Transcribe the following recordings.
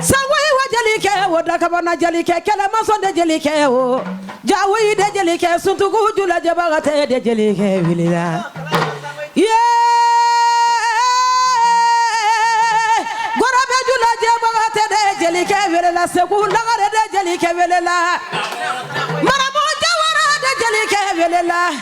Sangoyi wa jelikɛ o da kabana jelikɛ kɛlɛmasɔn de jelikɛ o jawoyi de jelikɛ suntuku jula jɛbaga tɛ de jelikɛ wele la gɔrɔbɛ jula jɛbaga tɛ de jelikɛ wele la segu lagarɛ de jelikɛ wele la maramu jawara de jelikɛ wele la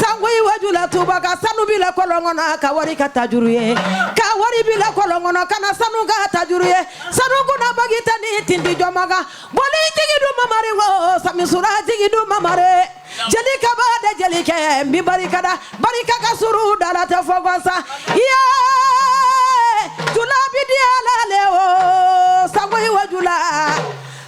Sangoyi wa jula tubaka sanu bila kɔlɔn kɔnɔ ka wari k'a tajuru ye ka wari bila kɔlɔn kɔnɔ ka na sanu k'a tajuru ye sanu kunna bagi tɛ ni tindi jɔma kan boli jigi du mamari wo samisura jigi du mamare jeli kaba de jelikɛ n b'i barika da barika ka suru dala tɛ fɔ kɔsa iye jula bi di ala le wo sangoyi wa jula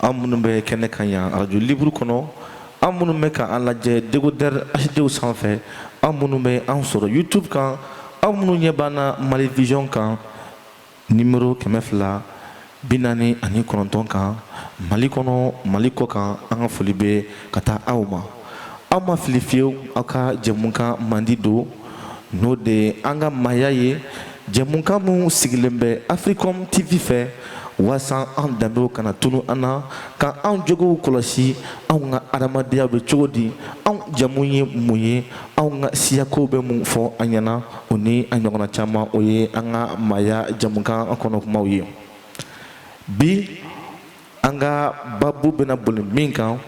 aw minnu bɛ kɛnɛ kan yan radio libre kɔnɔ aw minnu bɛ ka an lajɛ décodeur hd sanfɛ aw minnu bɛ an sɔrɔ youtube kan aw minnu ɲɛ b'an na mali vision kan numéro kɛmɛ fila bi naani ani kɔnɔntɔn kan mali kɔnɔ mali kɔ kan an ka foli bɛ ka taa aw ma aw ma fili fiyewu aw ka jɛmukan mandi don n'o de ye an ka maaya ye jɛmukan minnu sigilen bɛ africom tv fɛ waasa an danbew kana tunu an na ka anw jogow kɔlɔsi anw ka adamadenya bɛ cogo di anw jamu ye mun ye anw ka siyakow bɛ mun fɔ an ɲɛna o ni a ɲɔgɔnna caman o ye an ka maaya jɛmukan kɔnɔ kumaw ye bi an ka babu bɛna boli min kan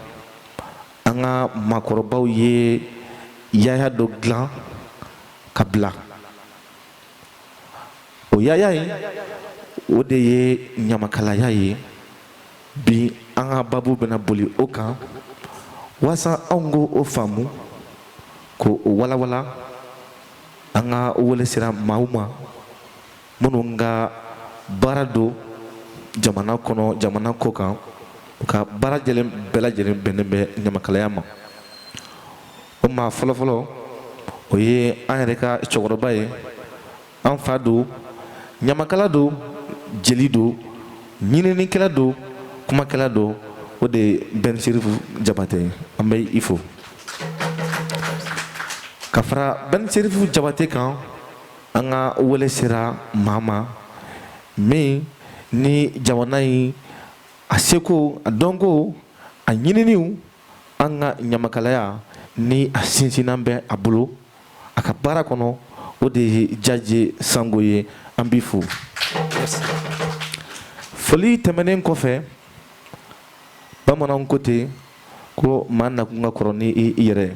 an ka makɔrɔbaw ye yaya dɔ dilan ka bila o yaya in o de ye ɲamakalaya ye bi an ka babu bɛna boli o kan walasa anw k'o faamu k'o walawala an ka wele sera maaw ma minnu ka baara don jamana kɔnɔ jamana kɔ kan u ka baara jɛlen bɛɛ lajɛlen bɛnnen bɛ ɲamakalaya ma o maa fɔlɔfɔlɔ o ye an yɛrɛ ka cɛkɔrɔba ye an fa don ɲamakala don jeli don ɲininikɛla don kumakɛla don o de ye bɛn serifu jabatɛ ye an bɛ i fo ka fara bɛn serifu jabatɛ kan an ka wele sera maa ma min ni jamana in a seko a dɔnko a ɲininiw an ka ɲamakalaya ni a sinsinan bɛ a bolo a ka baara kɔnɔ o de ye jaje sango ye an b'i fo foli tɛmɛnen kɔfɛ bamananw ko ten ko maa nakun ka kɔrɔ ni i yɛrɛ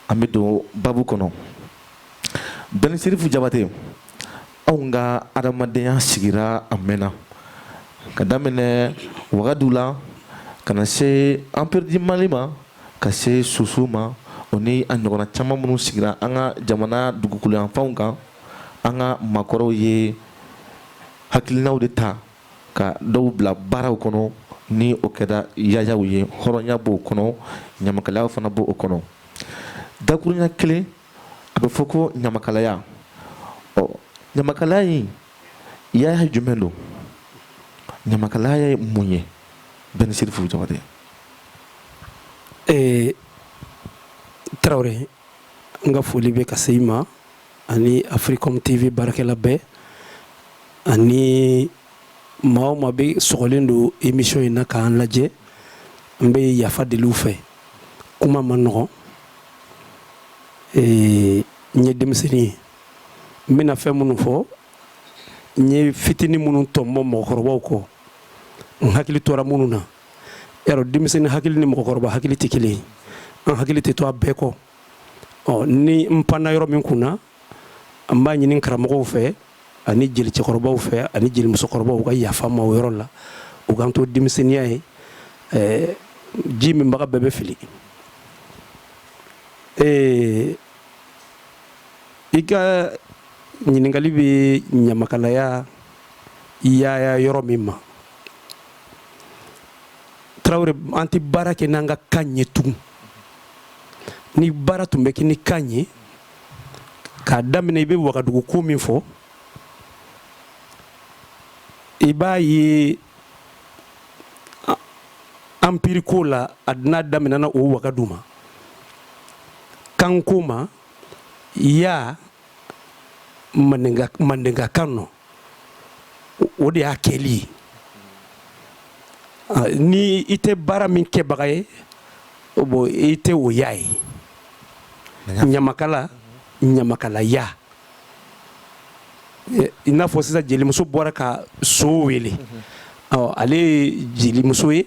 an bɛ don babu kɔnɔ Bɛn serifu jabate anw ka adamadenyaya sigira a mɛnna ka daminɛ wagadu la ka na se empire du mali ma ka se soso ma o ni a ɲɔgɔnna caman minnu sigira an ka jamana dugukoloyanfanw kan an ka maakɔrɔw ye hakilinaw de ta ka dɔw bila baaraw kɔnɔ ni o kɛra yayaw ye hɔrɔnya b'o kɔnɔ ɲamakalaya fana b' o kɔnɔ dakurunya kelen a bɛ fɔ ko ɲamakalaya ɔ ɲamakalaya in yaya jumɛn don ɲamakalaya ye mun ye bɛn serifu jabate ee tarawele n ka foli bɛ ka se i ma ani afirikɔm tv baarakɛla bɛɛ ani maa o maa bɛ sɔgɔlen don émission in na k'an lajɛ n bɛ yafa deli u fɛ kuma ma nɔgɔn ee n ye denmisɛnnin ye n bɛna fɛn minnu fɔ n ye fitinin minnu tɔnbɔ mɔgɔkɔrɔbaw kɔ n hakili tora minnu na yarɔ denmisɛnnin hakili ni mɔgɔkɔrɔba hakili tɛ kelen ye an hakili tɛ to a bɛɛ kɔ ɔ ni n panna yɔrɔ min kunna an b'a ɲini karamɔgɔw fɛ ani jelicɛkɔrɔbaw fɛ ani jelimusokɔrɔbaw ka yafa ma o yɔrɔ la u k'an to denmisɛnninya ye ɛɛ ji minbaga bɛɛ bɛ fili ee i ka ɲininkali bɛ ɲamakalaya yaaya yɔrɔ min ma tarawele an tɛ baara kɛ n'an ka kan ye tugun ni baara tun bɛ kɛ ni kan ye k'a daminɛ i bɛ wagadugu ko min fɔ i b'a ye anpiri ko la a dun a daminɛna o wagadu ma kanko ma ya mandenka kan nɔ o de y'a kɛli ye ni i tɛ baara min kɛbaga ye bon i tɛ o ya ye ɲamakala ɲamakalaya i n'a fɔ sisan jelimuso bɔra ka so wele mhm. ale ye jelimuso ye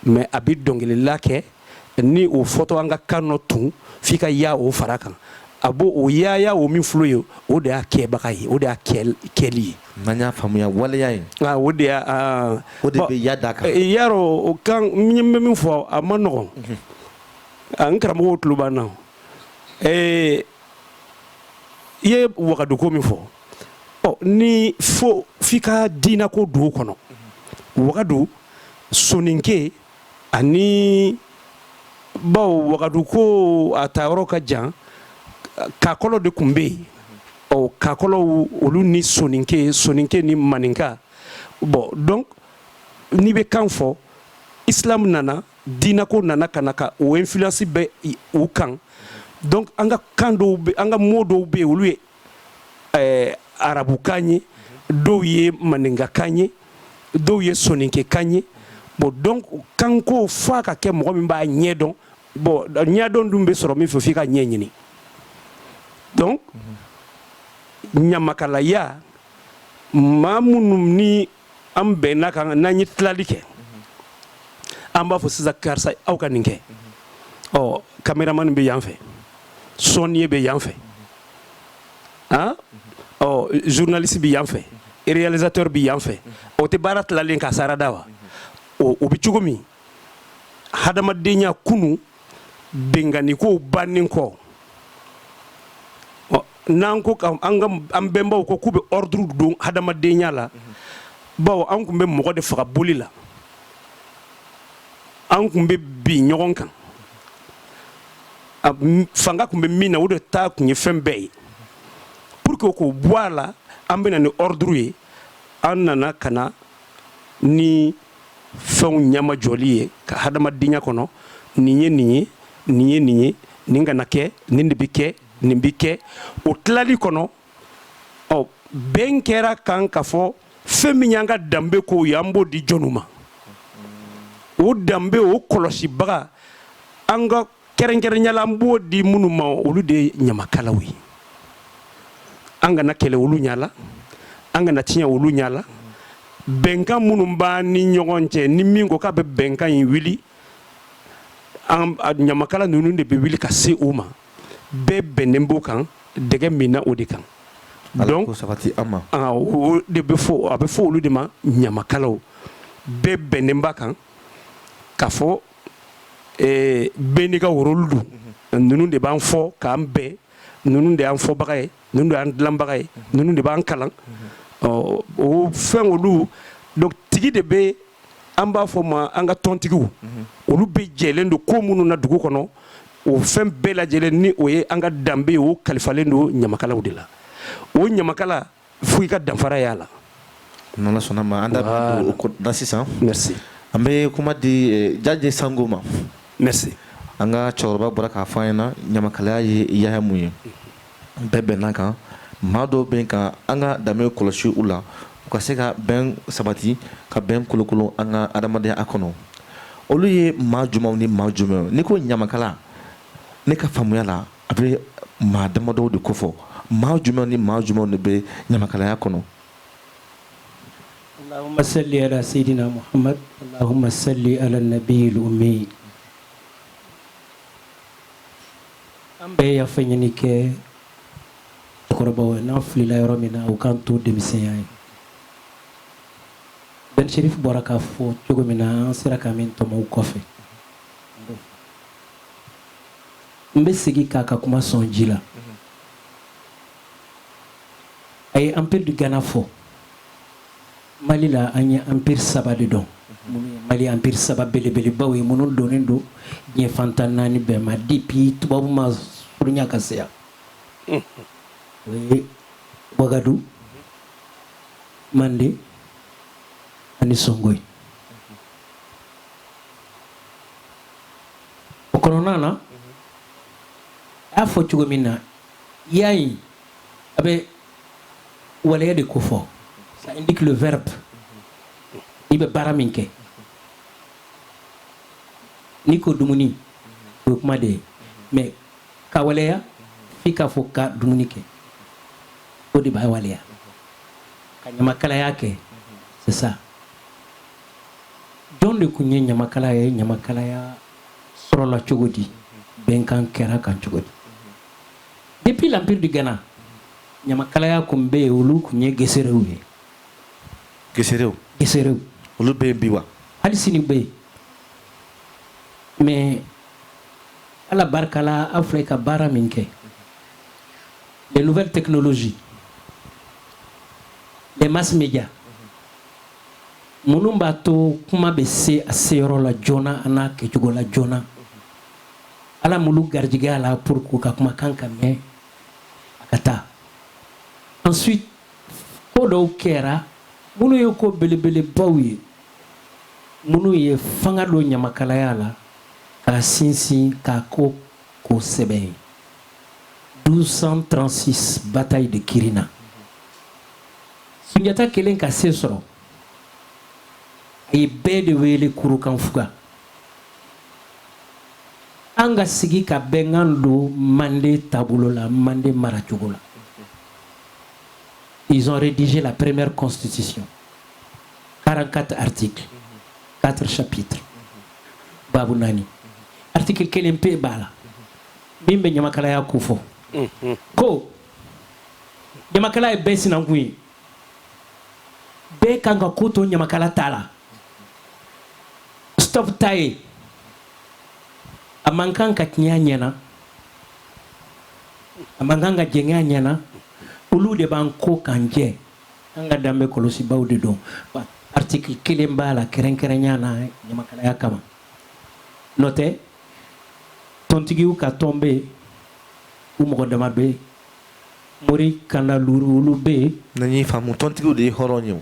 mais a bɛ dɔnkilila kɛ ni o fɔtɔ an ka kan nɔ tun f'i ka ya o fara kan a b'o o yaaya o min filɛ ye o de y'a kɛbaga ye o de y'a kɛli ye n'an y'a faamuya waleya ye ah, o de y'a ah. o de bɛ ya d'a kan eh, yarɔ o kan n bɛ min fɔ a ma nɔgɔn mhm. n karamɔgɔw tulo b'an na i ye wagaduko min fɔ ɔ ni fo f'i ka diinako don o kɔnɔ wagadu soninke ani bawo wagadu ko a taayɔrɔ ka jan kakɔlɔ de tun bɛ yen ɔ kakɔlɔw olu ni soninke soninke ni maninka bon donc n'i bɛ kan fɔ islam nana diinako nana ka na ka o influence bɛ u kan donc an ka kan dɔw bɛ an ka mot dɔw bɛ yen olu ye eh, arabukan ye dɔw ye maninkakan ye dɔw ye soninkekan ye bon donc kanko f'a ka kɛ mɔgɔ min b'a ɲɛ dɔn bon ɲɛdɔn dun bɛ sɔrɔ min fɛ f'i k'a ɲɛɲini donc ɲamakalaya maa minnu ni an bɛnn'a kan n'an ye tilali kɛ an b'a fɔ sisan karisa aw ka nin kɛ ɔ caméraman bɛ yan fɛ sɔnniye bɛ yan fɛ an ɔ journaliste bɛ yan fɛ réalisateur bɛ yan fɛ o tɛ baara tilali ye k'a sarada wa o bɛ cogo min hadamadenya kunu binkannikow bannen kɔ n'an ko an bɛnbaw ko k'u bɛ ordre don hadamadenya la bawo an tun bɛ mɔgɔ de faga boli la an tun bɛ bin ɲɔgɔn kan fanga tun bɛ min na o de ta tun ye fɛn bɛɛ ye pour que k'o bɔ a la an bɛ na ni ordre ye an nana ka na ni fɛnw ɲamajɔli ye ka hadamadenya kɔnɔ nin ye nin ye nin ye nin ye nin kana kɛ nin de bɛ kɛ nin bɛ kɛ o tilali kɔnɔ ɔ bɛn kɛr'a kan ka fɔ fɛn min y'an ka danbe kow ye an b'o di jɔnw ma o danbe o kɔlɔsibaga an ka kɛrɛnkɛrɛnya la an b'o di minnu ma olu de ye ɲamakalaw ye an kana kɛlɛ olu ɲala an kana tiɲɛ olu ɲala bɛnkan minnu b'an ni ɲɔgɔn cɛ ni min ko k'a bɛ bɛnkan in wuli ɲamakala ninnu de bɛ wuli ka se o ma bɛɛ bɛnnen b'o kan dɛgɛ minna o de kan donc o de bɛ fɔ a bɛ fɔ olu de ma ɲamakalaw bɛɛ bɛnnen b'a kan ka fɔ ee bɛɛ n'i ka rôle don ninnu de b'an fɔ k'an bɛn ninnu de y'an fɔbaga ye ninnu de y'an dilanbaga ye ninnu de b'an kalan ɔ o fɛn olu donc tigi de bɛ an b'a fɔ ma an ka tɔntigiw olu bɛɛ jɛlen don ko minnu na dugu kɔnɔ o fɛn bɛɛ lajɛlen ni o ye an ka danbe ye o kalifalen don ɲamakalaw de la o ɲamakala fo i ka danfara y'a la n'Ala sɔnna ma an da sisan an bɛ kuma di eh, Jaje Sango ma an ka cɛkɔrɔba bɔra k'a fɔ an ɲɛna ɲamakalaya ye ya mun ye bɛɛ bɛnna kan maa dɔw bɛ ka an ka danbe kɔlɔsi u la u ka se ka bɛn sabati ka bɛn kolokolon an ka adamadenya kɔnɔ olu ye maa jumɛnw ni maa jumɛnw n'i ko ɲamakala ne ka faamuya la a bɛ maa damadɔw de kofɔ maa jumɛn ni maa jumɛnw de bɛ ɲamakalaya kɔnɔ Allahumma salli ala sayyidina Muhammad Allahumma salli ala nabiyil ummi an bɛ yafa ɲini kɛ cɛkɔrɔbaw ye n'an filila yɔrɔ min na u k'an to denmisɛnya ye Ben Cherif bɔra k'a fɔ cogo min na an sera ka min tɔmɔ u kɔfɛ N bɛ segin k'a ka kuma sɔn ji la a ye empire du Ghana fɔ mali la an ye empire saba de dɔn mali empire saba belebelebaw ye minnu dɔnnen don diɲɛ fan tan naani bɛɛ ma depuis tubabu ma surunya ka se yan o ye wagadu manden ani Songoyi O kɔnɔna na a y'a fɔ cogo min na ya in a bɛ waleya de kofɔ ça indique le verbe i bɛ baara min kɛ n'i ko dumuni o ye kuma de ye mais ka waleya f'i k'a fɔ ka dumuni kɛ o de b'a waleya ka ɲamakalaya kɛ c'est ça jɔn de tun ye ɲamakala ye ɲamakalaya sɔrɔla cogo di bɛnkan kɛra kan cogo di depuis l'empire du Ghana ɲamakalaya kun bɛ yen olu kun ye geserew ye geserew geserew olu bɛ yen bi wa hali sini bɛ yen mais ala barika la aw filɛ ka baara min kɛ les nouvelles technologies les mass médias Minnu b'a to kuma bɛ se a seyɔrɔ la joona a n'a kɛcogo la joona Ala m'olu garijigɛ a la pour que u ka kumakan ka mɛn a ka taa ensuite ko dɔw kɛra minnu ye ko belebelebaw ye minnu ye fanga don ɲamakalaya la k'a sinsin k'a kɛ ko sɛbɛ ye 1236 bataille de Kirina Sunjata kelen ka se sɔrɔ a ye bɛɛ de wele kurukanfuga an ka sigi ka bɛnkan don manden taabolo la manden maracogo la ils ont rédigé la première constitution 44 articles 4 chapitres babu naani article kelen pe b'a la min bɛ ɲamakalaya ko fɔ ko ɲamakala ye bɛɛ sinankun ye bɛɛ kan ka ko to ɲamakala ta la stop ta ye a man kan ka tiɲɛ a ɲɛna a man kan ka jɛngɛ a ɲɛna olu de b'an ko k'an jɛ an ka danbe kɔlɔsibaw de don article kelen b'a la kɛrɛnkɛrɛnya na ɲamakalaya kama n'o tɛ tɔntigiw ka tɔn bɛ yen u mɔgɔ dama bɛ yen mori kanda luuru olu bɛ yen na y'i faamu tɔntigiw de ye hɔrɔn ye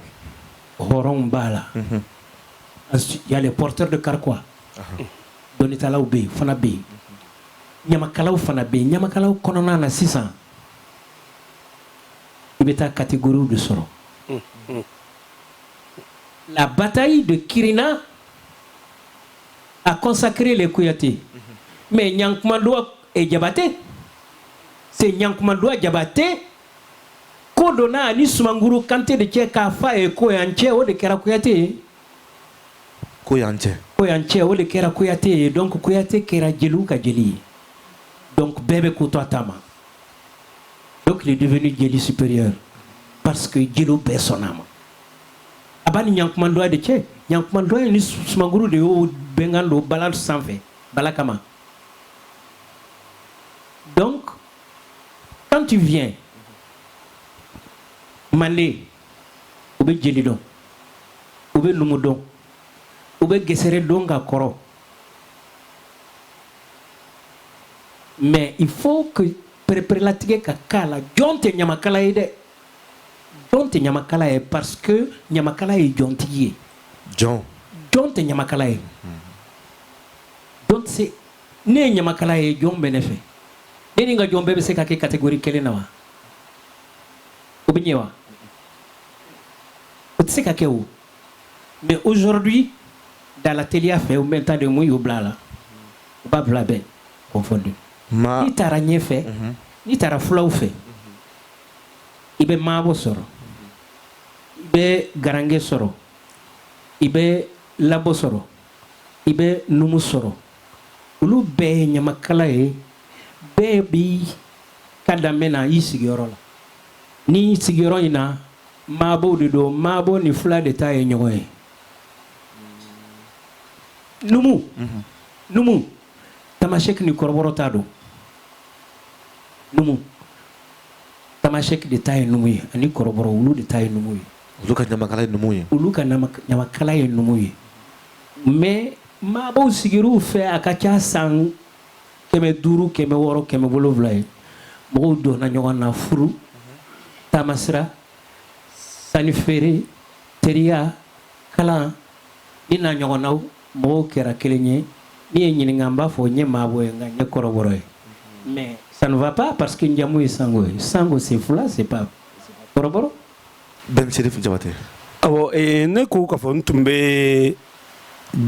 hɔrɔn b'a la il y a les porteurs de carquois donitalaw bɛ yen fana bɛ yen ɲamakalaw fana bɛ yen ɲamakalaw kɔnɔna na sisan i bɛ taa kategoriw de sɔrɔ la bataille de kirina a consacré les kuyate mais ɲankumanduwa est jabate c'est ɲankumanduwa jabate ko donna a ni sumanguru kante de cɛ k'a f'a ye ko y'an cɛ o de kɛra kuyate ye ko y'an cɛ ko y'an cɛ o de kɛra kuyate ye donc kuyate kɛra jeliw ka jeli ye donc bɛɛ bɛ ko to a ta ma donc il est devenu jeli supérieur parce que jeliw bɛɛ sɔnna a ma a b'a ni ɲankumanduwa de cɛ ɲankumanduwa ye ni sumanguru de y'o bɛnkan don bala sanfɛ bala kama Donc, quand tu viens, manden u bɛ jeli dɔn u bɛ numu dɔn u bɛ gesere dɔn ka kɔrɔ mais il faut que pereperelatigɛ ka k'a la jɔn tɛ ɲamakala ye dɛ jɔn tɛ ɲamakala ye parce que ɲamakala ye jɔntigi ye jɔn tɛ ɲamakala ye donc si ne ye ɲamakala ye jɔn bɛ ne fɛ ne ni n ka jɔn bɛɛ bɛ se ka kɛ kategori kelen na wa o bɛ ɲɛ wa o tɛ se ka kɛ o mais aujourd'hui dalateliya fɛ ou bien n t'a dɔn mun y'u bila a la u b'a bila bɛɛ confondu n'i taara ɲɛfɛ mhm. n'i taara fulaw fɛ i bɛ maabo sɔrɔ i bɛ garange sɔrɔ i bɛ labo sɔrɔ i bɛ numu sɔrɔ olu bɛɛ ye ɲamakala ye bɛɛ b'i ka danbe na i sigiyɔrɔ la ni sigiyɔrɔ in na maabo de don maabo ni fula de ta ye ɲɔgɔn ye numu mhm. numu tamasɛki ni kɔrɔbɔrɔ ta don numu tamasɛki de ta ye numu ye ani kɔrɔbɔrɔ olu de ta ye numu ye Olu ka ɲamakala ye numu ye olu ka ɲamakala ye numu ye mais maabo sigiw fɛ a ka ca san kɛmɛ duuru kɛmɛ wɔɔrɔ kɛmɛ wolowula ye mɔgɔw donna ɲɔgɔn na furu taamasira sannifeere teriya kalan a n'a ɲɔgɔnnaw mɔgɔw kɛra kelen ye n'i y'a ɲininka a b'a fɔ n ye maabo ye nka n ye kɔrɔbɔrɔ ye mais ça ne va pas parce que n jamu ye sango ye sango c'est fula c'est pas kɔrɔbɔrɔ bɛn serifu jabate awɔ ne ko ka fɔ n tun bɛ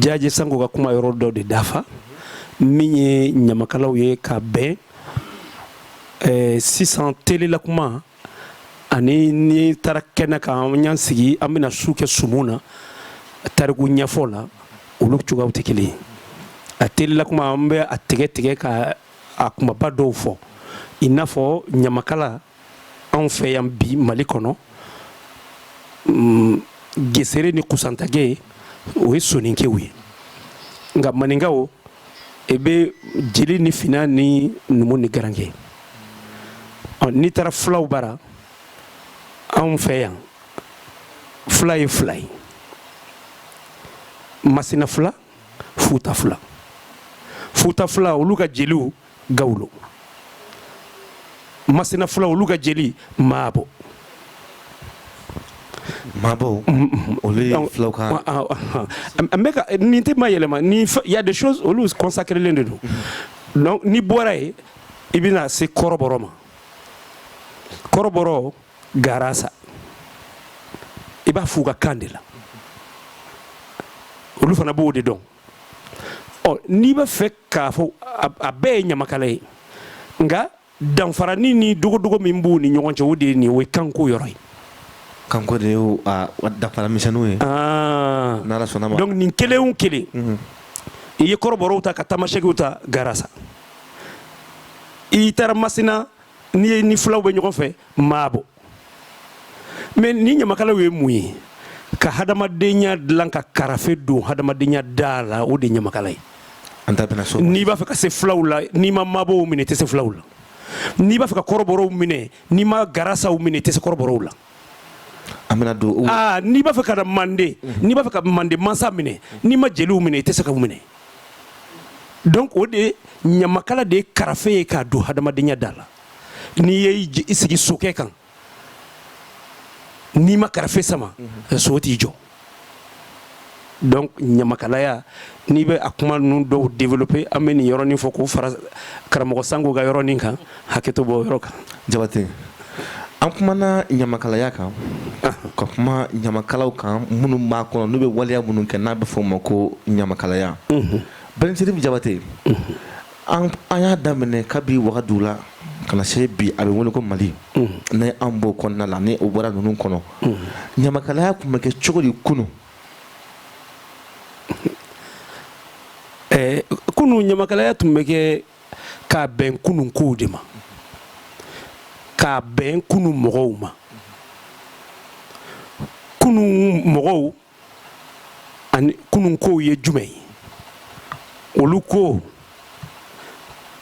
jaje sango ka kuma yɔrɔ dɔ de dafa min ye ɲamakalaw ye ka bɛn sisan tilela kuma ani ni taara ka na ka an ɲan sigi an bɛna su kɛ sumu na tariku ɲɛfɔ la olu cogoyaw tɛ kelen a tilela kuma an bɛ a tigɛtigɛ ka a kumaba dɔw fɔ i n'a fɔ ɲamakala anw fɛ yan bi mali kɔnɔ mm, gesere ni kusantage o ye soninkew ye nka maninkaw e bɛ jeli ni fina ni numu ni garanke n'i taara fulaw bara anw fɛ yan fula ye fila ye masina fula futa fula futa fula olu ka jeliw gawulo masina fulaw olu ka jeli maabo maabo olu ye fulaw ka n bɛ ka nin tɛ mayɛlɛma ni il y a des choses olu consacrelen de don donc n'i bɔra yen i bɛna se kɔrɔbɔrɔ ma kɔrɔbɔrɔ garasa i b'a f'u ka kan de la olu fana b'o de dɔn ɔ n'i b'a fɛ k'a fɔ a bɛɛ ye ɲamakala ye nka danfarani ni dogodogo min b'u ni ɲɔgɔn cɛ o de ye nin o ye kanko yɔrɔ ye kanko de y'o danfara misɛnninw ye ah. n'ala sɔnna a ma donc nin kelen o kelen mhm. i ye kɔrɔbɔrɔw ta ka tamasɛkiw ta garasa i taara masina ni fulaw bɛ ɲɔgɔn fɛ maabo mais ni ɲamakalaw ye mun ye ka hadamadenya dilan ka karafe don hadamadenya da la o de ɲamakala ye n'i b'a fɛ ka se fulaw la n'i ma maabɔw minɛ tɛ se fulaw la n'i b'a fɛ ka kɔrɔbɔrɔw minɛ n'i ma garasaw minɛ tɛ se kɔrɔbɔrɔw la n'i b'a fɛ ka da mande mhm. n'i b'a fɛ ka mande mansa minɛ n'i ma jeliw minɛ i tɛ se ka minɛ donc o de ɲamakala de ye karafe ye k'a don hadamadenya da la n'i ye i sigi sokɛ kan n'i ma karafe sama mhm. so t'i jɔ donc ɲamakalaya n'i bɛ a kuma ninnu dɔw développer an bɛ nin yɔrɔnin fɔ k'o fara karamɔgɔ Sango ka yɔrɔnin kan hakɛto b'o yɔrɔ kan Jabate an kumana ɲamakalaya kan ah. ka kuma ɲamakalaw kan minnu b'a kɔnɔ n'u bɛ waleya minnu kɛ n'a bɛ fɔ o ma ko ɲamakalaya mhm. Bɛn Serifu Jabate mhm. An y'a daminɛ kabi wagadu la ka na se bi a bɛ wele ko mali ni an b'o kɔnɔna la ni o bɔra ninnu kɔnɔ ɲamakalaya kun bɛ kɛ cogo di kunun ɛɛ kunun ɲamakalaya tun bɛ kɛ ka bɛn kunun kow de ma ka bɛn kunun mɔgɔw ma kunun mɔgɔw ani kunun kow ye jumɛn ye olu ko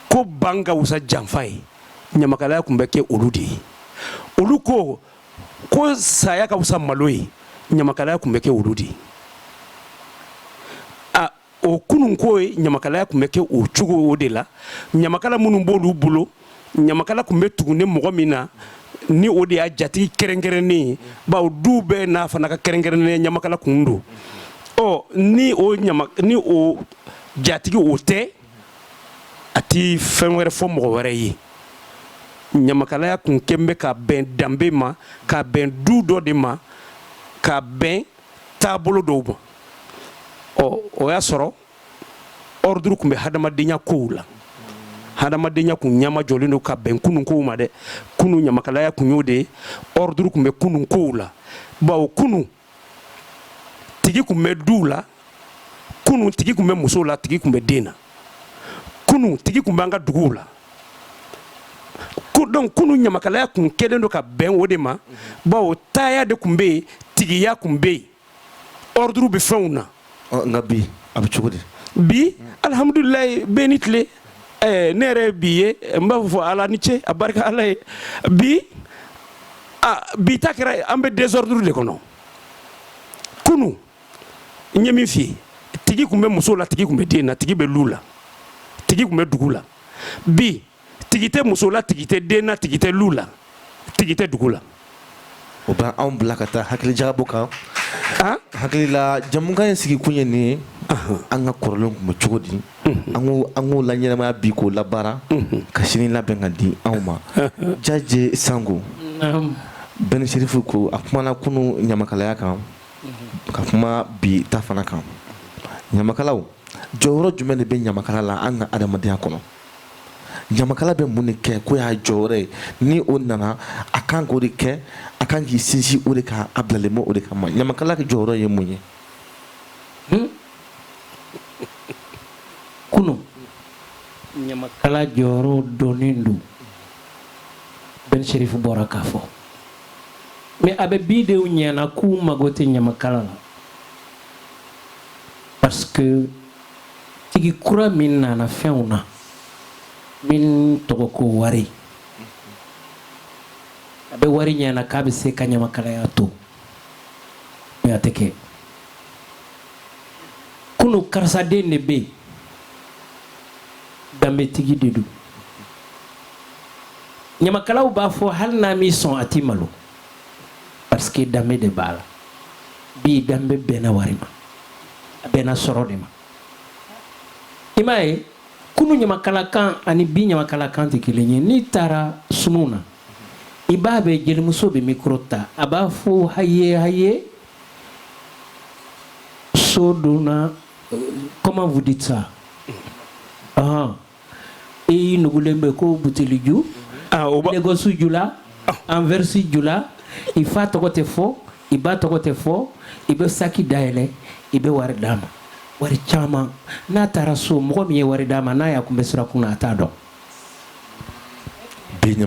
ko ban ka wusa janfa ye ɲamakalaya kun bɛ kɛ olu de ye olu ko ko saya ka wusa malo ye ɲamakalaya kun bɛ kɛ olu de ye o kunun ko ye ɲamakalaya kun bɛ kɛ o cogo o de la ɲamakala minnu b'olu bolo ɲamakala kun bɛ tugulen mɔgɔ min na ni o de y'a jatigi kɛrɛnkɛrɛnnen ye bawo du bɛɛ n'a fana ka kɛrɛnkɛrɛnnen ɲamakala kun don ɔ ni o ni o jatigi o tɛ a tɛ fɛn wɛrɛ fɔ mɔgɔ wɛrɛ ye ɲamakalaya kun kɛlen bɛ ka bɛn danbe ma ka bɛn du dɔ de ma ka bɛn taabolo dɔw ma ɔ o y'a sɔrɔ ordre kun bɛ hadamadenya kow la hadamadenya kun ɲama jɔlen don ka bɛn kunun kow ma dɛ kunun ɲamakalaya kun y'o de ye ordre kun bɛ kunun kow la bawo kunun tigi kun bɛ du la kunun tigi kun bɛ muso la tigi kun bɛ den na kunun tigi kun b'an ka duguw la donc kunun ɲamakalaya kun kɛlen don ka bɛn o de ma bawo taaya de kun bɛ yen tigiya kun bɛ yen ordre bɛ fɛnw na nka bi a bɛ cogo di bi alihamudulilayi bɛɛ n'i tile eh, ne yɛrɛ bi ye n b'a fɔ ala ni ce a barika ala ye bi a bi ta kɛra an bɛ désordre de kɔnɔ kunun n ye min f'i ye tigi kun bɛ muso la tigi kun bɛ den na tigi bɛ lu la tigi kun bɛ dugu la bi tigi tɛ muso la tigi tɛ den na tigi tɛ lu la tigi tɛ dugu la o bɛ anw bila ka taa hakilijagabɔ kan hakilila jamukan in sigi kun ye nin ye an ka kɔrɔlen kun bɛ cogo di an k'o laɲɛnamaya bi k'o labaara ka sini labɛn ka di anw ma jaje sango bɛn serifu ko a kumana kunun ɲamakalaya kan ka kuma bi ta fana kan ɲamakalaw jɔyɔrɔ jumɛn de bɛ ɲamakala la an ka adamadenya kɔnɔ ɲamakala bɛ mun de kɛ k'o y'a jɔyɔrɔ ye ni o nana a kan k'o de kɛ a kan k'i sinsin o de kan a bilalen bɛ o de kama ɲamakala ka jɔyɔrɔ ye mun ye hmm? kunun ɲamakala jɔyɔrɔ dɔnnen don bɛn serifu bɔra k'a fɔ mais a bɛ bi denw ɲɛna k'u mago tɛ ɲamakala la parce que tigi kura min nana fɛnw na min tɔgɔ ko wari a bɛ wari ɲɛna k'a bɛ se ka ɲamakalaya to mais a tɛ kɛ kunun karisa den de bɛ yen danbetigi de don ɲamakalaw b'a fɔ hali n'a m'i sɔn a t'i malo parce que danbe de b'a la bi danbe bɛnna wari ma a bɛnna sɔrɔ de ma i m'a ye kunun ɲamakalakan ani bi ɲamakalakan tɛ kelen ye n'i taara sumuw na i b'a bɛ jelimuso bɛ mikoro ta a b'a fɔ haye haye so donna comment vous dites ça i nugulen bɛ ko buteliju ah, legɔsi jula ah. anvɛrisi jula i fa tɔgɔ tɛ fɔ i ba tɔgɔ tɛ fɔ i bɛ saki dayɛlɛ i bɛ wari d'a ma wari caman n'a taara so mɔgɔ min ye wari d'a ma n'a y'a kunbɛn sirakun na a t'a dɔn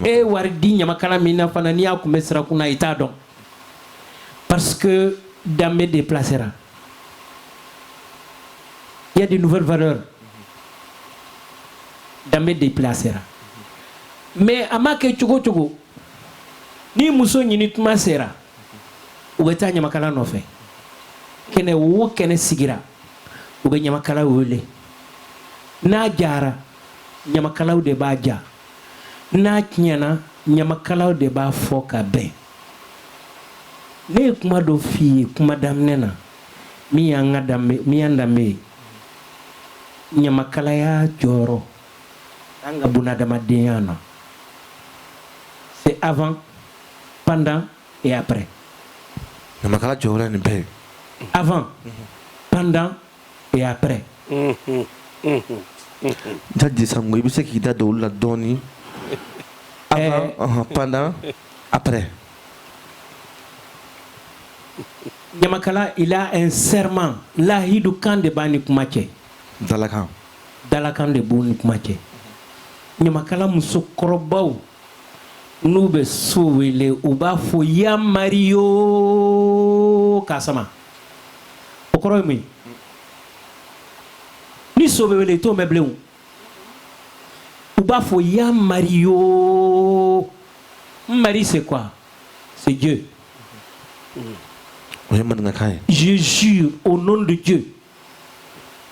e wari di ɲamakala min na fana n'i y'a kunbɛn sirakun na i t'a dɔn Parce que danbe déplacera. Il y a de nouvelles valeurs. Danbe déplacera. Mais a ma kɛ cogo cogo, ni muso ɲini tuma sera u bɛ taa ɲamakala nɔfɛ kɛnɛ o kɛnɛ sigira u bɛ ɲamakala wele n'a jara ɲamakalaw de b'a ja n'a tiɲɛna ɲamakalaw de b'a fɔ k'a bɛn ne ye kuma dɔ f'i ye kuma daminɛ na min y'an ka danbe min y'an danbe ye ɲamakalaya jɔyɔrɔ an ka bunadamadenya na c'est avant pendant et après ɲamakala jɔyɔrɔ ye nin bɛɛ ye avant pendant et après Jaje Sango i bɛ se k'i da don olu la dɔɔnin pendant après ɲamakala il a un serment layidukan de b'a ni kuma cɛ dalakan dalakan de b'u ni kuma cɛ ɲamakala musokɔrɔbaw n'u bɛ so wele u b'a fɔ ya mari yoo ka o kɔrɔ ye mun ye ni so bɛ wele i t'o mɛn bilen o u b'a fɔ ya mari yoo mari c'est quoi c'est Dieu o ye maninkakan ye je jure au nom de Dieu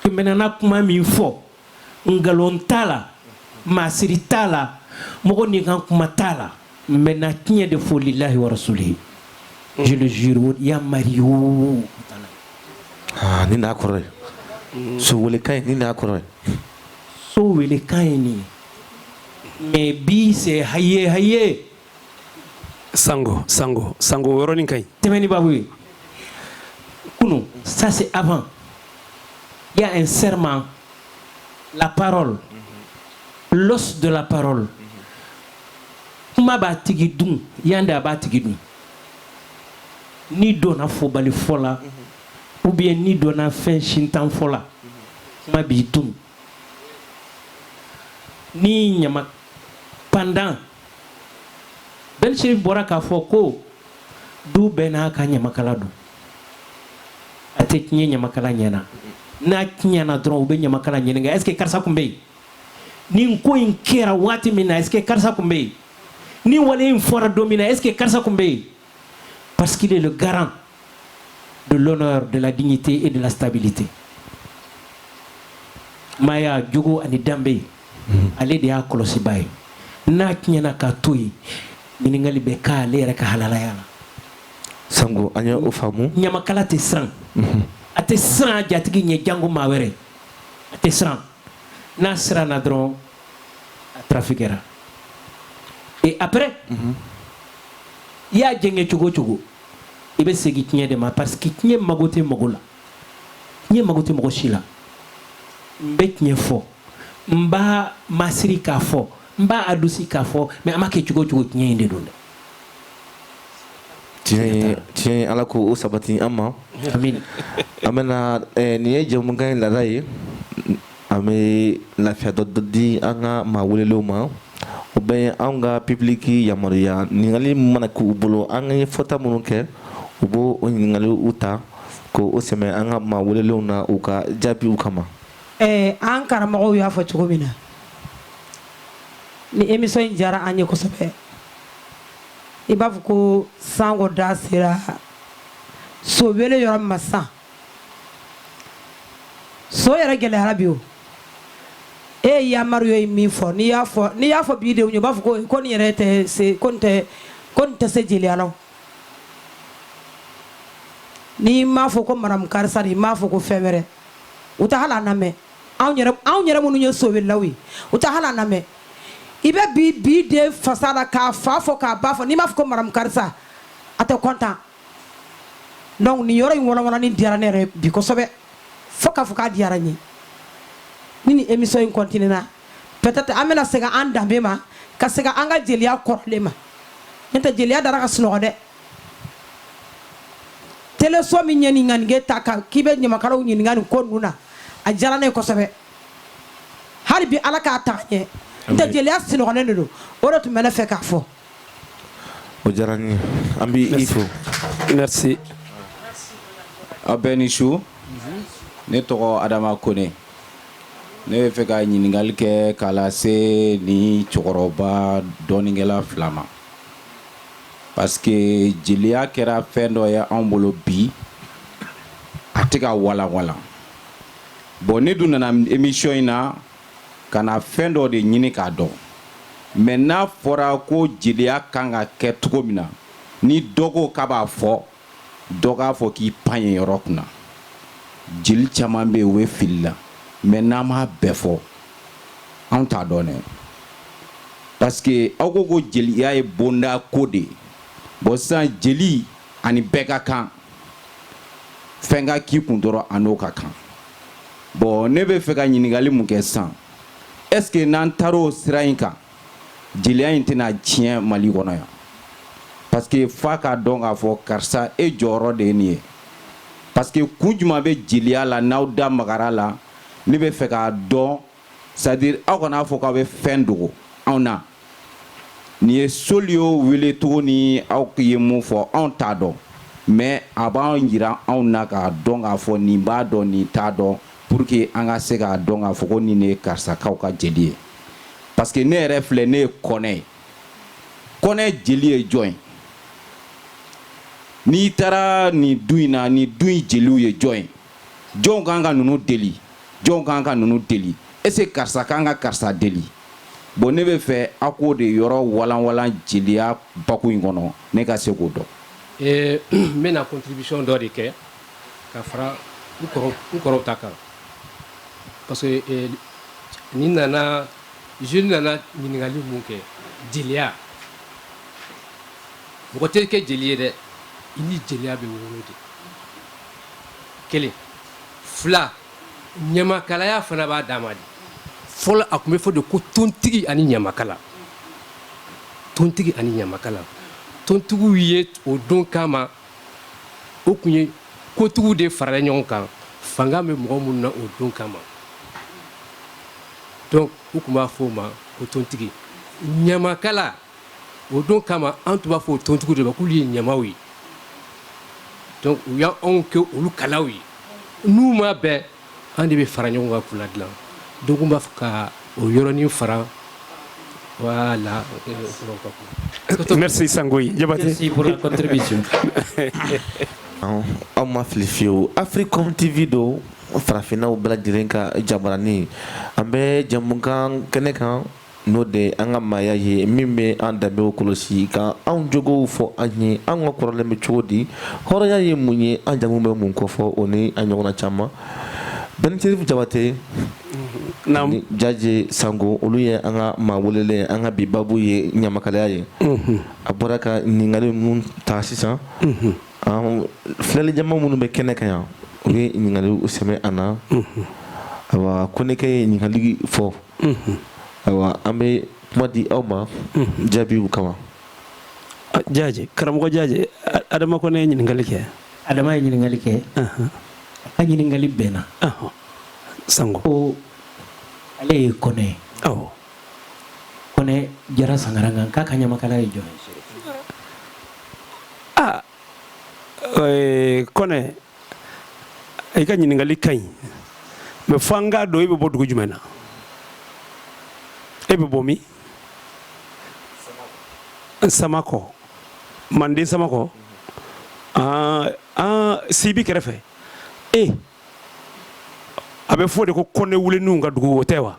que n bɛ na kuma min fɔ nkalon t'a la masiri t'a la mɔgɔ ni kan kuma t'a la n bɛ na tiɲɛ de fɔ lilahi wa rasulihi je le jure ya mari yoo ah, ni n'a kɔrɔ ye so welekan ye ni n'a kɔrɔ ye so welekan ye nin ye mais bi c'est haye haye Sango sango sango o yɔrɔnin ka ɲi tɛmɛnen baabu ye kunu ça c'est avant il y a un serment la parole l'os de la parole kuma b'a tigi dun yan de a b'a tigi dun n'i donna fɔbali fɔ la ou bien n'i donna fɛn sintan fɔ la kuma b'i dun n'i ɲama pendant Ben Chérif bɔra k'a fɔ ko du bɛɛ n'a ka ɲamakala don a tɛ tiɲɛ ɲamakala ɲɛ na n'a tiɲɛna dɔrɔn u bɛ ɲamakala ɲininka est-ce que karisa tun bɛ yen nin ko in kɛra waati min na est-ce que karisa tun bɛ yen nin wale in fɔra don min na est-ce que karisa tun bɛ yen Parce qu'il est le garant de l'honneur, de la dignité et de la stabilité. Maaya jogo ani danbe, mhm. ale de y'a kɔlɔsibaa ye. N'a tiɲɛna k'a to yen, ɲininkali bɛ k'ale yɛrɛ ka halalaya la. Sango, an ye o faamu. Ɲamakala tɛ siran. Mhm. A tɛ siran a jatigi ɲɛ janko maa wɛrɛ. A tɛ siran. N'a siranna dɔrɔn a trafiquera et après i y'a jɛngɛ cogo cogo i bɛ segin tiɲɛ de ma parce que tiɲɛ mago tɛ mɔgɔ la tiɲɛ mago tɛ mɔgɔ si la n bɛ tiɲɛ fɔ n b'a masiri k'a fɔ n b'a adoucir k'a fɔ mais an b'a kɛ cogo cogo tiɲɛ in de don dɛ tiɲɛ ala k'o sabati an ma an bɛna eh, nin ye jɛmukan in laada ye An bɛ lafiya dɔ dɔ di an ka maa welelenw ma o bɛ ye an ka public yamaruya ɲininkali mana k' u bolo an ka ye fɔta minnu kɛ u b' o ɲininkaliw ta k'o sɛmɛ an ka maa welelenw na u ka jaabiw kama ɛɛ an karamɔgɔw y'a fɔ cogo min na ni émission in diyara an ye kosɛbɛ i b'a fɔ ko san da sera so wele yɔrɔ min ma sa so yɛrɛ gɛlɛyara bi o e ye yamaru yo min fɔ n'i y'a fɔ n'i y'a fɔ bi denw ye u b'a fɔ ko ko nin yɛrɛ tɛ se ko nin tɛ ko nin tɛ se jeliya la o. n'i m'a fɔ ko madamu karisa de i m'a fɔ ko fɛn wɛrɛ u tɛ hali a lamɛn anw yɛrɛ anw yɛrɛ minnu ye so welelaw ye u tɛ hali a lamɛn i bɛ bi bi den fasa la k'a fa fɔ k'a ba fɔ n'i m'a fɔ ko madamu karisa a tɛ content donc nin yɔrɔ in walanwalanni diyara ne yɛrɛ bi kosɛbɛ fo k'a fɔ k'a diyara n ye ni nin émission in continue na peut-être an bɛna segin an danbe ma ka segin an ka jeliya kɔrɔlen ma n'o tɛ jeliya dara ka sunɔgɔ dɛ teleso min ye nin ŋaniya ta ka k'i bɛ ɲamakalaw ɲininka nin ko ninnu na a diyara ne ye kosɛbɛ hali bi ala k'a taa ɲɛ n'o tɛ jeliya sunɔgɔlen de don o de tun bɛ ne fɛ k'a fɔ O diyara n ye an bɛ i fo merci a bɛɛ ni su ne tɔgɔ Adama Kone ne bɛ fɛ ka ɲininkali kɛ k'a lase nin cɛkɔrɔba dɔnnikɛla fila ma parce que jeliya kɛra fɛn dɔ ye anw bolo bi a tɛ ka walanwalan bon ne dun nana émission in na ka na fɛn dɔ de ɲini k'a dɔn mais n'a fɔra ko jeliya kan ka kɛ cogo min na ni dɔ ko k'a b'a fɔ dɔ k'a fɔ k'i pan yen yɔrɔ kunna jeli caman bɛ yen u bɛ fili la mais n'an m'a bɛɛ fɔ anw t'a dɔn dɛ parce que aw ko ko jeliya ye bonda ko de ye bon sisan jeli ani bɛɛ ka kan fɛn ka k'i kun dɔrɔn a n'o ka kan bon ne bɛ fɛ ka ɲininkali min kɛ sisan est ce que n'an taara o sira in kan jeliya in tɛna tiɲɛ Mali kɔnɔ yan parce que f'a k'a dɔn k'a fɔ karisa e jɔyɔrɔ de ye nin ye parce que kun jumɛn bɛ jeliya la n'aw da magara a la ne bɛ fɛ k'a dɔn c'est-à-dire aw kan'a fɔ k'a bɛ fɛn dogo anw na nin ye soliyo wele cogo ni aw ye mun fɔ anw t'a dɔn mais a b'a jira anw na k'a dɔn k'a fɔ nin b'a dɔn nin t'a dɔn pour que an ka se k'a dɔn k'a fɔ ko nin de ye karisakaw ka jeli ye parce que ne yɛrɛ filɛ ne ye kɔnɛ ye kɔnɛ jeli ye jɔn ye n'i taara nin du in na nin du in jeliw ye jɔn ye jɔnw kan ka ninnu deli jɔnw kan ka ninnu deli est-ce que karisa kan ka karisa deli bon ne bɛ fɛ a k'o de yɔrɔ walanwalan jeliya baku in kɔnɔ ne ka se k'o dɔn eh, n bɛna contribution dɔ de kɛ ka fara n kɔrɔ n kɔrɔw ta kan parce que eh, nin nana jeune nana ɲininkali mun kɛ jeliya mɔgɔ tɛ kɛ jeli ye dɛ i ni jeliya bɛ wolo de kelen fila ɲamakalaya fana b'a dama de fɔlɔ a tun bɛ fɔ de ko tontigi ani ɲamakala tontigi ani ɲamakala tontigiw ye o don kama o tun ye kotigiw de farala ɲɔgɔn kan fanga bɛ mɔgɔ minnu na o don kama donc u tun b'a fɔ o ma ko tontigi ɲamakala o don kama an tun b'a fɔ o tontigiw de ma k'olu ye ɲamaw ye donc u y'anw kɛ olu kalaw ye n'u ma bɛn an de bɛ fara ɲɔgɔn kan k'u ladilan donc n b'a fɛ ka o yɔrɔnin fara voilà euh, merci sangoyi jabate merci pour la contribution aw ma fili fiyewu africom tv don farafinnaw bɛɛ lajɛlen ka jabaranin an bɛ jamukan kɛnɛ kan n'o de an ka maaya ye min bɛ an danbew kɔlɔsi ka anw jogow fɔ an ye an ka kɔrɔlen bɛ cogo di hɔrɔnya ye mun ye an jamu bɛ mun kɔfɔ o ni a ɲɔgɔnna caman bɛnitiri jabate jaje sango olu ye an ka maa welelen an ka bi babu ye ɲamakalaya ye an bɔra ka ɲininkali ninnu ta sisan filɛli jama minnu bɛ kɛnɛ kan yan u ye ɲininkaliw sɛmɛ an na ayiwa kɔnɛkɛ ye ɲininkali fɔ ayiwa an bɛ kuma di aw ma jaabiw kama jaje karamɔgɔ jaje adama kɔnɛ ye ɲininkali kɛ adama ye ɲininkali kɛ a ɲininkali bɛnna sango ko ale ye kɔnɛ ye kɔnɛ jara sankaranka k'a ka ɲamakala ye jɔn ye aa ee, kɔnɛ i ka ɲininkali ka ɲi mais fo an k'a dɔn e bɛ bɔ dugu jumɛn na e bɛ bɔ min samakɔ manden samakɔ aa aa sibi kɛrɛfɛ e a bɛ fɔ de ko kɔnɛ wuleninw ka dugu o tɛ wa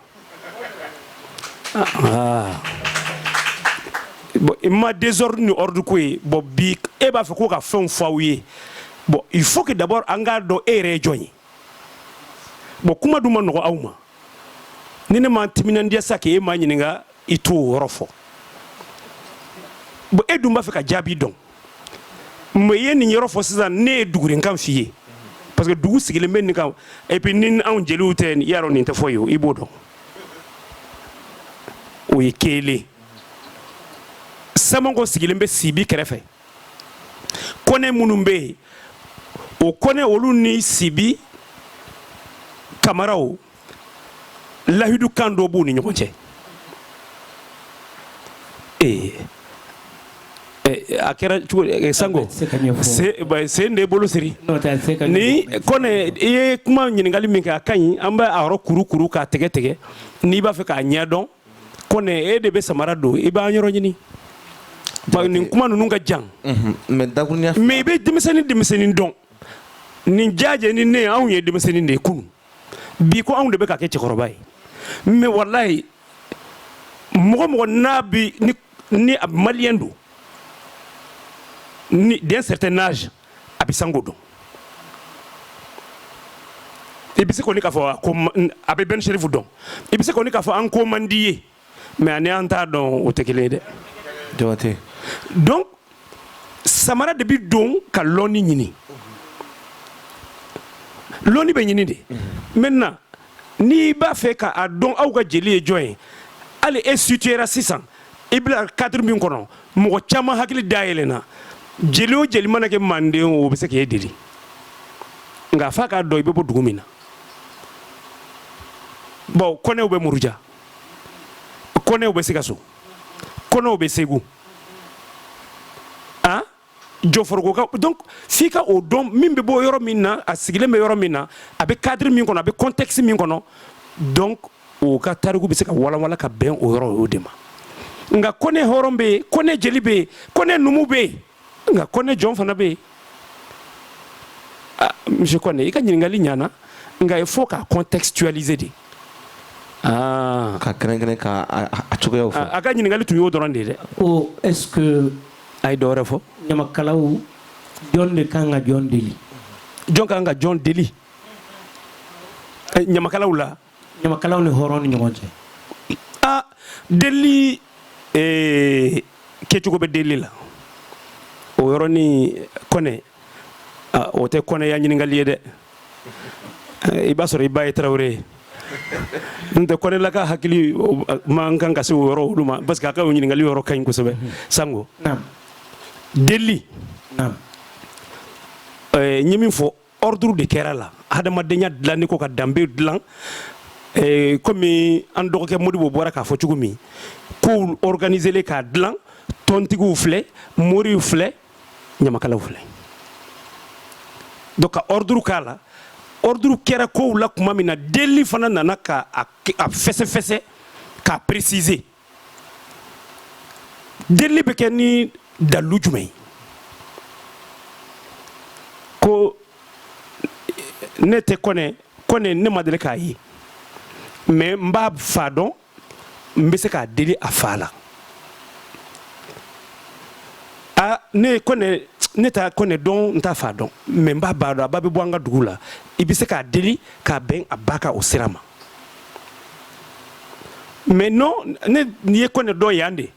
i ma désordre ni ordre ko ye bon bi e b'a fɛ k'o ka fɛnw fɔ aw ye bon il faut que d'abord an k'a dɔn e yɛrɛ ye jɔn ye bon kuma dun ma nɔgɔ aw ma ni ne ma timinandiya sa k'e ma ɲininka i t'o yɔrɔ fɔ bon e dun b'a fɛ ka jaabi dɔn mais i ye nin yɔrɔ fɔ sisan ne ye dugurenkan f'i ye parce que dugu sigilen bɛ nin kan et puis ni anw jeliw tɛ i y'a dɔn nin tɛ fɔ ye o i b'o dɔn o ye kelen samakɔ sigilen bɛ sibi kɛrɛfɛ kɔnɛ minnu bɛ yen o kɔnɛ olu ni sibi kamaraw lahidu kan dɔ b'u ni ɲɔgɔn cɛ ee eh, a kɛra cogo eh, sango sen de bolo siri ni kɔnɛ i ye kuma ɲininkali min kɛ a ka ɲi an bɛ a yɔrɔ kuru kuru k'a tɛgɛ tɛgɛ n'i b'a fɛ k'a ɲɛ dɔn kɔnɛ e de bɛ samara don i b'an yɔrɔ ɲini nin kuma ninnu ka jan mhm, mais i bɛ denmisɛnnin denmisɛnnin dɔn nin jaje ni ne anw ye denmisɛnnin de ye kunun bi ko anw de bɛ ka kɛ cɛkɔrɔba ye mais walayi mɔgɔ mɔgɔ n'a bi ni a maliyɛn don ni d'un certain âge a bɛ sango dɔn i bɛ se kɔni k'a fɔ a bɛ ben chérif dɔn i bɛ se kɔni k'a fɔ an ko man di ye mais ani an t'a dɔn o tɛ kelen ye dɛ jabatɛ donc samara de bɛ don ka lɔnni ɲini lɔnni bɛ ɲini de maintenant n'i b'a fɛ k'a dɔn aw ka jeli ye jɔn ye hali e situera sisan i bila cadre min kɔnɔ mɔgɔ caman hakili dayɛlɛnna jeli o jeli mana kɛ manden o bɛ se k'e deli nka f'a k'a dɔn i bɛ bɔ dugu min na bon kɔnɛw bɛ muruja kɔnɛw bɛ sikaso kɔnɛw bɛ segu an jɔforokoka donc f'i ka o dɔn min bɛ bɔ yɔrɔ min na a sigilen bɛ yɔrɔ min na a bɛ cadre min kɔnɔ a bɛ contexte min kɔnɔ donc o ka tariku bɛ se ka walawala ka bɛn o yɔrɔ o de ma nka kɔnɛ hɔrɔn bɛ yen kɔnɛ jeli bɛ yen kɔnɛ numu bɛ yen nka kɔnɛ jɔn fana bɛ yen ah, monsieur kɔnɛ i ka ɲininkali ɲana nka il faut k'a contextualiser de ah. ka kɛrɛnkɛrɛn ka a cogoyaw fɔ ah, a ka ɲininkali tun y'o dɔrɔn de ye dɛ ko est ce que a ye dɔ wɛrɛ fɔ ɲamakalaw jɔn de kan ka jɔn deli jɔn ka kan ka jɔn deli eh, ɲamakalaw la ɲamakalaw ni hɔrɔn ni ɲɔgɔn cɛ a delili eh, kɛcogo bɛ delili la o yɔrɔnin kɔnɛ ah, o tɛ kɔnɛya ɲininkali ye dɛ Eh, i b'a sɔrɔ i ba ye tarawele ye n tɛ kɔnɛlaka hakili o- man kan ka se o yɔrɔ olu ma parce que a ka o ɲininkali yɔrɔ ka ɲi kosɛbɛ sango naam delili naam eh, n ye min fɔ ordre de kɛra a la hadamadenya dilanni ko ka danbe dilan eh, komi an dɔgɔkɛ modibo bɔra k'a fɔ cogo min kow organiselen k'a dilan tɔntigiw filɛ moriw filɛ ɲamakalaw filɛ donc ka ordre k'a la ordre kɛra kow la tuma min na delili fana nana k'a fɛsɛfɛsɛ k'a préciser delili bɛ kɛ ni dalu jumɛn ye ko ne tɛ kɔnɛ kɔnɛ ne ma deli k'a ye mais n b'a fa dɔn n bɛ se k'a deli a fa la a ne kɔnɛ ne tɛ kɔnɛ dɔn n t'a fa dɔn mais n b'a ba dɔn a ba bɛ bɔ an ka dugu la i bɛ se k'a deli k'a bɛn a ba ka o sira ma maintenant n'i ye kɔnɛ dɔn yan de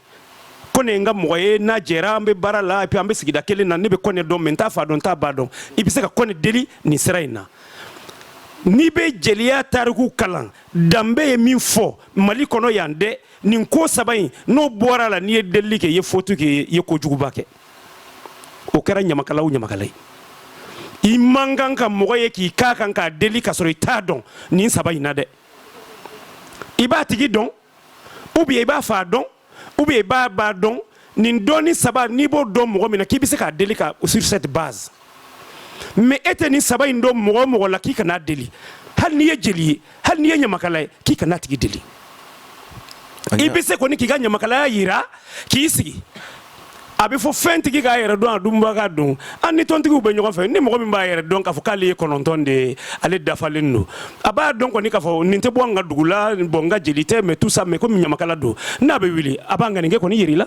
kɔnɛ ye n ka mɔgɔ ye n'a jɛra an bɛ baara la et puis an bɛ sigida kelen na ne bɛ kɔnɛ dɔn mais n t'a fa dɔn n t'a ba dɔn i bɛ se ka kɔnɛ deli nin sira in na n'i bɛ jeliya tariku kalan danbe ye min fɔ mali kɔnɔ yan dɛ nin ko saba in n'o bɔra a la n'i ye delili kɛ i ye faute kɛ i ye kojuguba kɛ o kɛra ɲamakala o ɲamakala ye i man kan ka mɔgɔ ye k'i k'a kan k'a deli ka sɔrɔ i t'a dɔn nin saba in na dɛ i b'a tigi dɔn ou bien i b'a fa dɔn ou bien i b'a ba dɔn nin dɔnni saba n'i b'o dɔn mɔgɔ min na k'i bɛ se k'a deli ka sur cette base mais e tɛ nin saba in dɔn mɔgɔ o mɔgɔ la k'i kan'a deli hali n'i ye jeli ye hali n'i ye ɲamakala ye k'i kan'a tigi deli i bɛ se kɔni k'i ka ɲamakalaya jira k'i sigi a bɛ fɔ fɛntigi k'a yɛrɛ dɔn a dunbaga dɔn an ni tɔntigiw bɛ ɲɔgɔn fɛ ni mɔgɔ min b'a yɛrɛ dɔn k'a fɔ k'ale ye kɔnɔntɔn de ye ale dafalen don a b'a dɔn kɔni k'a fɔ nin tɛ bɔ an ka dugu la bon n ka jeli tɛ mais tout ça mais komi ɲamakala don n'a bɛ wuli a b'a ŋaniya kɔni jira la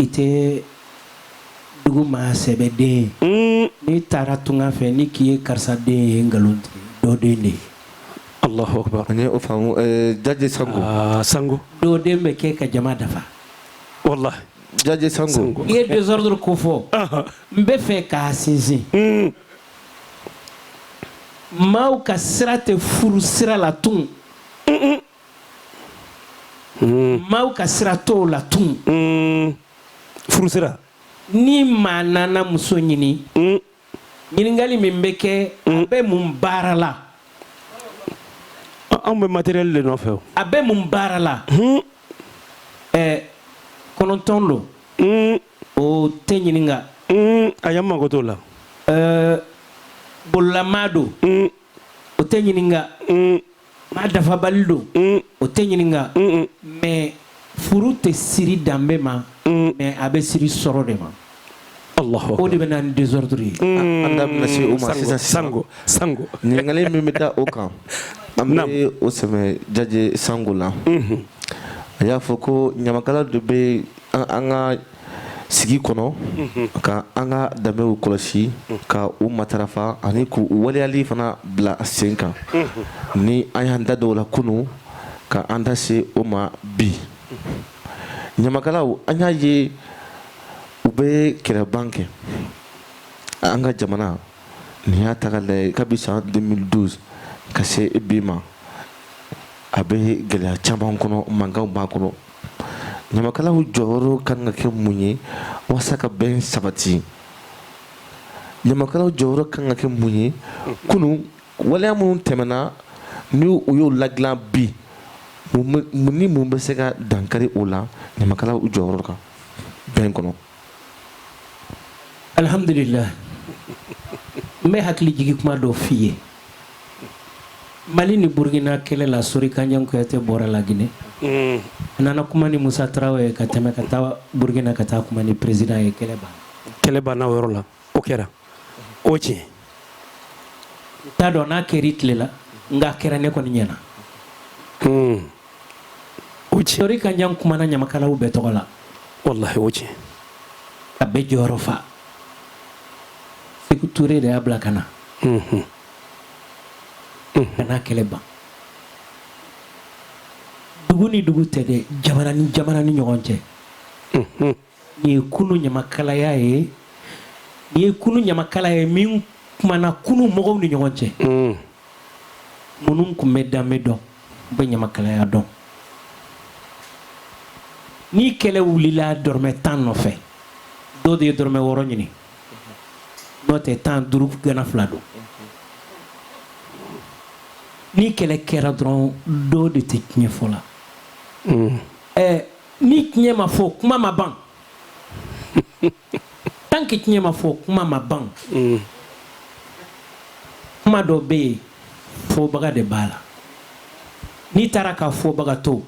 i tɛ dugu maa sɛbɛ den ye hmm. n'i taara tunga fɛ n'i k'i ye karisa den ye nkalontigɛ dɔ den de ye Allahu akbar an ye o faamu eh, Jaje Sango ah, Sango dɔ den bɛ kɛ ka jama dafa wallahi Jaje Sango i ye désordre ko fɔ n bɛ fɛ k'a sinsin hmm. maaw ka sira tɛ furu sira la tun hmm. maaw ka sira t'o la tun hmm. furusira ni maa nana muso ɲini hmm. ɲininkali min bɛ kɛ a bɛ mun baara la anw bɛ matériel de nɔfɛ o a bɛ mun baara la ɛɛ kɔnɔntɔn don o tɛ ɲininka ayi an mago t'o la ɛɛ bololamaa don o tɛ ɲininka mm. maa dafabali don mm. o tɛ ɲininka mais furu tɛ siri danbe ma mm. mais a bɛ siri sɔrɔ de ma o de bɛ na ni désordre ye an da bɛna se o ma sisan Sango Sango ɲininkali min bɛ da o kan an bɛ o sɛmɛ Jaje Sango la mm-hmm. a y'a fɔ ko ɲamakala de bɛ an ka sigi kɔnɔ ka an ka danbew kɔlɔsi ka u matarafa ani k' u waleyali fana bila sen kan ni an y'an da don o la kunun ka an da se o ma bi ɲamakalaw an y'a ye u bɛ kɛlɛban kɛ an ka jamana n'i y'a ta k'a lajɛ kabi san deux mille douze ka se bi ma a bɛ gɛlɛya caman kɔnɔ mankanw b'a kɔnɔ ɲamakalaw jɔyɔrɔ ka kan ka kɛ mun ye walasa ka bɛn sabati ɲamakalaw jɔyɔrɔ ka kan ka kɛ mun ye kunun waleya minnu tɛmɛna ni u y'o ladilan bi ni mun bɛ se ka dankari o la ɲamakalaw jɔyɔrɔ kan bɛn kɔnɔ alihamdulila n bɛ hakili jigin kuma dɔ f'i ye Mali ni Burukina kɛlɛ la Sori Kanja Kuyate bɔra La Guinée unn a nana kuma ni Musa Tarawele ye ka tɛmɛ ka taa Burukina ka taa kuma ni président ye kɛlɛ banna kɛlɛ banna o yɔrɔ la o kɛra o ye tiɲɛ ye n t'a dɔn n'a kɛr'i tile la nka a kɛra ne kɔni ɲɛna unn o ye tiɲɛ Sori Kanja kumana Ɲamakalaw bɛɛ tɔgɔ la walahi o ye tiɲɛ ye ka bɛɛ jɔyɔrɔ fa Seku Ture de y'a bila ka na. Unhun. Unhun. Ka na kɛlɛ ban. Dugu ni dugu tɛ dɛ, jamana ni jamana ni ɲɔgɔn cɛ. Unhun. Nin ye kunun ɲamakalaya ye, nin ye kunun ɲamakala ye min kumana kunun mɔgɔw ni ɲɔgɔn cɛ. Un. minnu tun bɛ danbe dɔn u bɛ ɲamakalaya dɔn ni kɛlɛ wulila dɔrɔmɛ tan nɔfɛ dɔ de ye dɔrɔmɛ wɔɔrɔ ɲini n'o tɛ tan duuru gana fila don ni kɛlɛ kɛra dɔrɔn dɔ de tɛ tiɲɛ fɔ la hmm. ni tiɲɛ ma fɔ kuma ma ban tant que tiɲɛ ma fɔ kuma ma ban mm. kuma dɔ bɛ yen fɔbaga de b'a la n'i taara ka fɔbaga to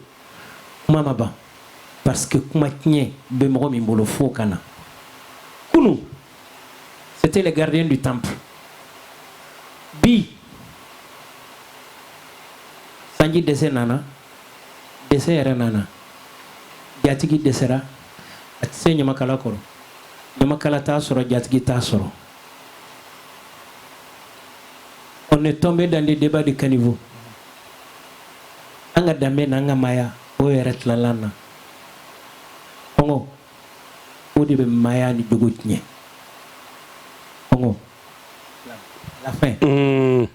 kuma ma ban parce que kuma tiɲɛ bɛ mɔgɔ min bolo fo ka na kunu c'était les gardiens du temple bi sanji dɛsɛ nana dɛsɛ yɛrɛ nana jatigi dɛsɛra a tɛ se ɲamakala kɔrɔ ɲamakala t'a sɔrɔ jatigi t'a sɔrɔ on est tombé dans des débats de caniveau an ka danbe n'an ka maaya o yɛrɛ tilalan na kɔngɔ o de bɛ maaya ni jogo tiɲɛ kɔngɔ la faim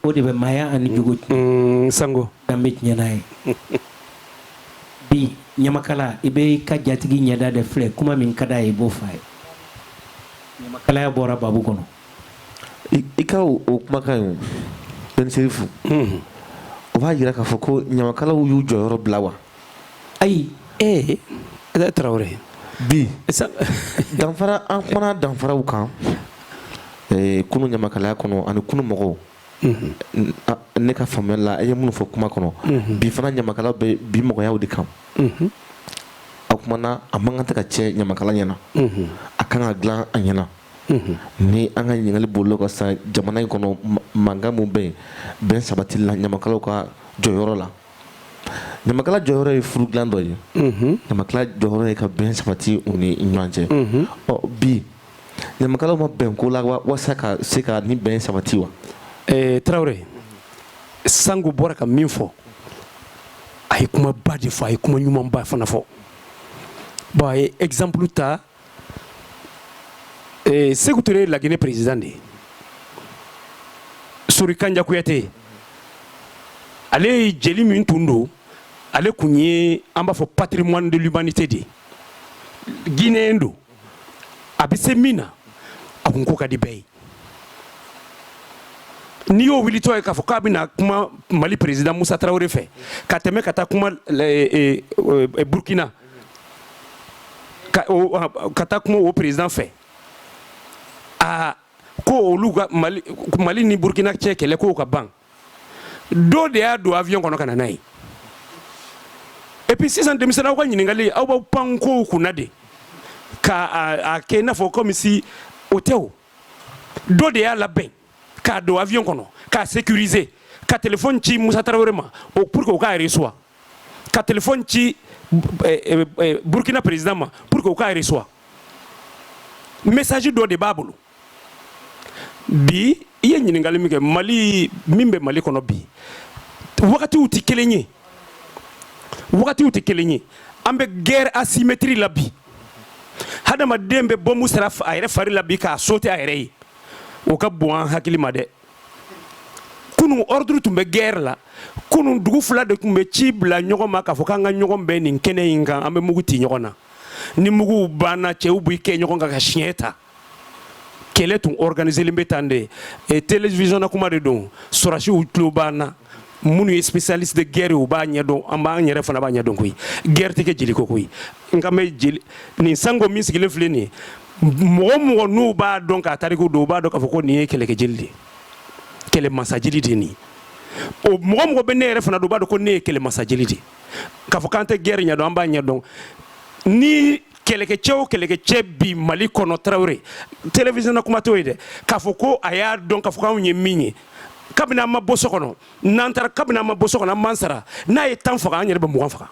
o de bɛ maaya ani jogo tiɲɛ mm, sango danbe tiɲɛna ye bi ɲamakala i bɛ i ka jatigi ɲɛda de filɛ kuma min ka d'a ye i b'o fɔ a ye ɲamakalaya bɔra babu kɔnɔ i ka o kumakan ye Ben Sɛrifu mm-hmm. o b'a jira k'a fɔ ko ɲamakalaw y'u jɔyɔrɔ bila wa ayi ee ɛɛ tarawele bi danfara an kumana danfaraw kan ee, kunu ɲamakalaya kɔnɔ ani kunu mɔgɔw mhm. ne ka faamuyali la a ye minnu fɔ kuma kɔnɔ mhm. bi fana ɲamakala bɛ bi mɔgɔyaw de kan mhm. a kumana a man kan tɛ ka tiɲɛ ɲamakala ɲɛna a kan ka dilan a ɲɛna ni an ka ɲininkali bolila ka sa jamana in kɔnɔ mankan min bɛ yen bɛn sabatili la ɲamakalaw ka jɔyɔrɔ la ɲamakala jɔyɔrɔ ye furu dilan dɔ ye ɲamakala jɔyɔrɔ ye ka bɛn sabati u ni ɲɔgɔn cɛ ɔ bi ɲamakalaw ma bɛn ko la walasa ka se ka nin bɛn sabati wa eh, tarawele sango bɔra ka min fɔ a ye kuma ba de fɔ a ye kuma ɲumanba fana fɔ bon a ye exemple ta eh, Sekou Touré ye Laginɛ président de ye Sori Kanja Kuyate ale ye jeli min tun don ale kun ye an b'a fɔ patrimoine de l'humanité de ye Guinéen don a bɛ se min na a kun ko ka di bɛɛ ye n'i y'o wulitɔ ye k'a fɔ k'a bɛna kuma Mali président Moussa Traoré fɛ ka tɛmɛ ka taa kuma Burkina ka, o, ka taa kuma o président fɛ aa ko olu ka mali, mali ni burkina cɛ kɛlɛ ko o ka ban dɔ de y'a don avion kɔnɔ ka na n'a ye et puis sisan denmisɛnnin aw ka ɲininkali aw b'aw pan kow kunna de ka a, a kɛ i n'a fɔ comme si o tɛ o dɔ de y'a labɛn k'a don avion kɔnɔ k'a sécuriser ka telefɔni ci musa tarawele ma pour que o k'a reçoit ka telefɔni ci eh, eh, eh, burkina président ma pour que u k'a reçoit message dɔ de b'a bolo bi i ye ɲininkali min kɛ mali min bɛ mali kɔnɔ bi wagatiw tɛ kelen ye wagatiw tɛ kelen ye an bɛ guerre asymétrie la bi hadamaden bɛ bɔmu siri a yɛrɛ fari la bi k'a sauter a yɛrɛ ye o ka bon an hakili ma dɛ kunun ordre tun bɛ guerre la kunun dugu fila de tun bɛ ci bila ɲɔgɔn ma k'a fɔ k'an ka ɲɔgɔn bɛn nin kɛnɛ in kan an bɛ mugu ti ɲɔgɔn na ni muguw banna cɛw b'i kɛ ɲɔgɔn kan ka siɲɛ ta kɛlɛ tun organiselen bɛ tan dɛ télévision na kuma de don sɔrɔdasiw tulo b'an na minnu ye spécialiste de guerre u b'a ɲɛdɔn an b'an yɛrɛ fana b'a ɲɛdɔn koyi guerre tɛ kɛ jeli kɔ koyi n kan bɛ jeli nin sango min sigilen filɛ nin ye mɔgɔ mɔgɔ n'u b'a dɔn k'a tariku dɔn u b'a dɔn k'a fɔ ko nin ye kɛlɛkɛ jeli de ye kɛlɛ masa jeli de ye nin ye o mɔgɔ mɔgɔ bɛ ne yɛrɛ fana dɔn u b'a dɔn ko ne ye kɛlɛ masa jeli de ye k'a fɔ k'an tɛ guerre ɲɛdɔn an b'a ɲɛdɔn ni kɛlɛkɛcɛ o kɛlɛkɛcɛ bi mali kɔnɔ tarawele télévision na kuma t'o ye dɛ k'a fɔ ko a y'a dɔn k'a fɔ k'anw ye min ye kabini an ma bɔ so kɔnɔ n'an taara kabini an ma bɔ so kɔnɔ an b'an sara n'a ye tan faga an yɛrɛ bɛ mugan faga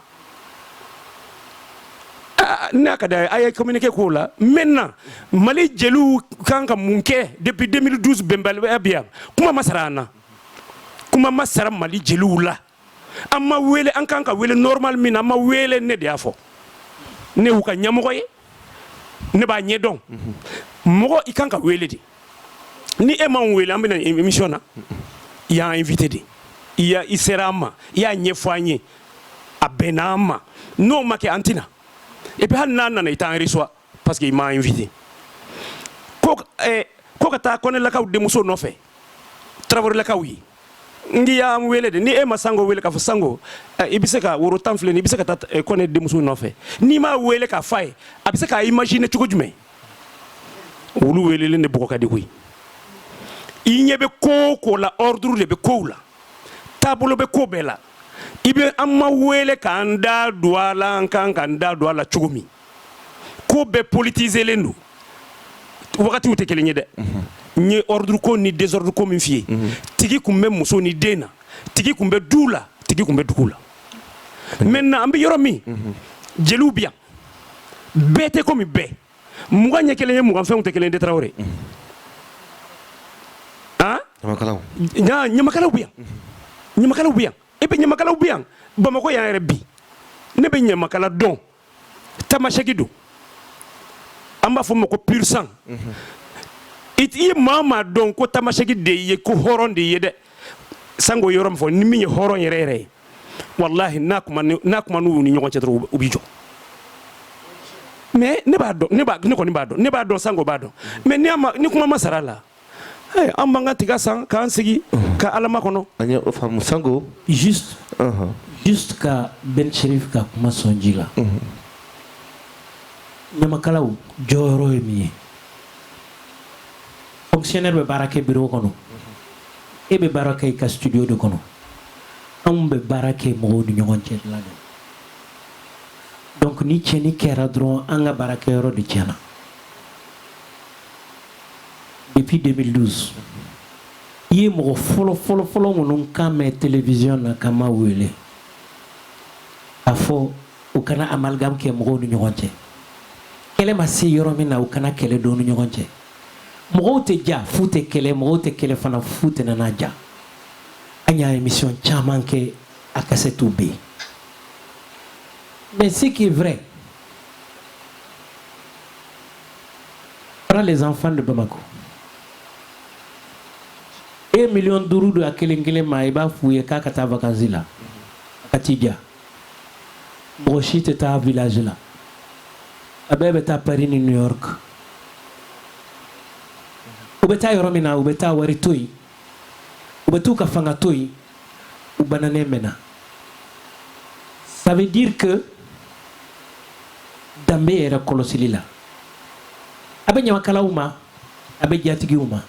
ah, n'a ka d'a ye a ye communiqué k'o la maintenant mali jeliw kan ka mun kɛ depuis 2012 bɛnbaliya bi yan kuma ma sara an na kuma ma sara mali jeliw la an ma wele an kan ka wele normal min na an ma wele ne de y'a fɔ ne y'u ka ɲɛmɔgɔ ye ne b'a ɲɛdɔn mɔgɔ i kan ka wele de ni e m'an wele an bɛ na émission na i y'an invité de i y'a i sera an ma i y'a ɲɛfɔ an ye a bɛnna an ma n'o ma kɛ an tɛ na et puis hali n'an nana i t'an reçoit parce que i m'an invité ko eh, ko ka taa kɔnɛlakaw denmuso nɔfɛ tarawelelakaw ye n k'i y'an wele de ni e ma sango wele k'a fɔ sango eh, i bɛ se ka woro tan filɛ nin i bɛ se ka taa eh, kɔnɛ denmuso nɔfɛ n'i m'a wele k'a f'a ye a bɛ se k'a imaginer cogo jumɛn wulu welelen de bugɔ ka di koyi i ɲɛ bɛ ko o ko la ordre de bɛ kow la taabolo bɛ ko bɛɛ la i bɛ an ma wele k'an da don a la an kan k'an da don a la cogo min ko bɛɛ politizelen don wagatiw tɛ kelen ye dɛ n ye ordre ko ni désordre ko min f'i ye tigi tun bɛ muso ni den na tigi tun bɛ du la tigi tun bɛ dugu la maintenant an bɛ yɔrɔ min jeliw bi yan bɛɛ tɛ komi bɛɛ mugan ɲɛ kelen ye mugan fɛnw tɛ kelen ye Tarawele han ɲamakalaw ɲamakalaw bi yan ɲamakalaw bi yan et puis ɲamakalaw bi yan Bamakɔ yan yɛrɛ bi ne bɛ ɲamakala dɔn tamasɛki don an b'a fɔ ma ko pur sang i ye maa maa dɔn ko tamasɛki de ye ko hɔrɔn de ye dɛ sango yɔrɔ min fɔ ni min ye hɔrɔn yɛrɛ yɛrɛ ye walahi n'a kuma n'u ni ɲɔgɔn cɛ dɔrɔn u b'i jɔ mais ne b'a dɔn ne kɔni b'a dɔn ne b'a dɔn sango b'a dɔn mais ni kuma ma sara a la an b'an ka tiga san k'an sigi ka alama kɔnɔ an ye o faamu Sango juste juste ka Ben Cherif ka kuma sɔn ji la ɲamakalaw jɔyɔrɔ ye min ye fonctionnaire bɛ baara kɛ bureau kɔnɔ e bɛ baara kɛ i ka studio de kɔnɔ anw bɛ baara kɛ mɔgɔw ni ɲɔgɔn cɛ la de donc ni tiɲɛni kɛra dɔrɔn an ka baarakɛyɔrɔ de tiɲɛna depuis 2012 i ye mɔgɔ fɔlɔ fɔlɔ fɔlɔ minnu kan mɛn télévision na ka ma wele a fɔ u kana amalgame kɛ mɔgɔw ni ɲɔgɔn cɛ kɛlɛ ma se yɔrɔ min na u kana kɛlɛ don u ni ɲɔgɔn cɛ mɔgɔw tɛ diya f'u tɛ kɛlɛ mɔgɔw tɛ kɛlɛ fana f'u tɛna na diya an y'a émission caman kɛ a kasɛtiw bɛ yen mais ce qui est vrai Prends les enfants de Bamako. E miliyɔn duuru di a kelen kelen ma i b'a f'u ye k'a ka taa vakansi la a ka t'i ja mɔgɔ si tɛ taa village la a bɛɛ bɛ taa Paris ni New York u bɛ taa yɔrɔ min na u bɛ taa wari to yen u bɛ t'u ka fanga to yen u bananen bɛ na ça veut dire que danbe yɛrɛ kɔlɔsili la a bɛ ɲamakalaw ma a bɛ jatigiw ma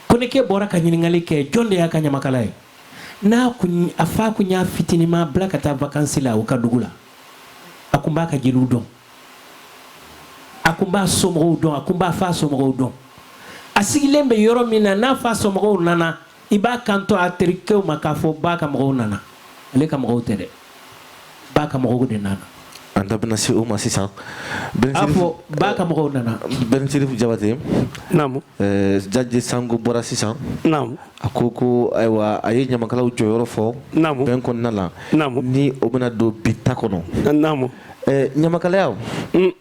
Konekɛ bɔra ka ɲininkali kɛ jɔn de y'a ka ɲamakala ye n'a kun a fa kun y'a fitinima bila ka taa vakansi la u ka dugu la a kun b'a ka jeliw dɔn a kun b'a somɔgɔw dɔn a kun b'a fa somɔgɔw dɔn a sigilen bɛ yɔrɔ min na n'a fa somɔgɔw nana i b'a kanto a terikɛw ma k'a fɔ ba ka mɔgɔw nana ale ka mɔgɔw tɛ dɛ ba ka mɔgɔw de nana an da bɛna se o ma sisan a fɔ ba ka mɔgɔw nana Ben Cherif Jabate naamu Jaji Sango bɔra sisan naamu a ko ko ayiwa a ye ɲamakalaw jɔyɔrɔ fɔ naamu bɛn kɔnɔna la naamu ni o bɛna don bi ta kɔnɔ naamu Eh, ɲamakalaya mm.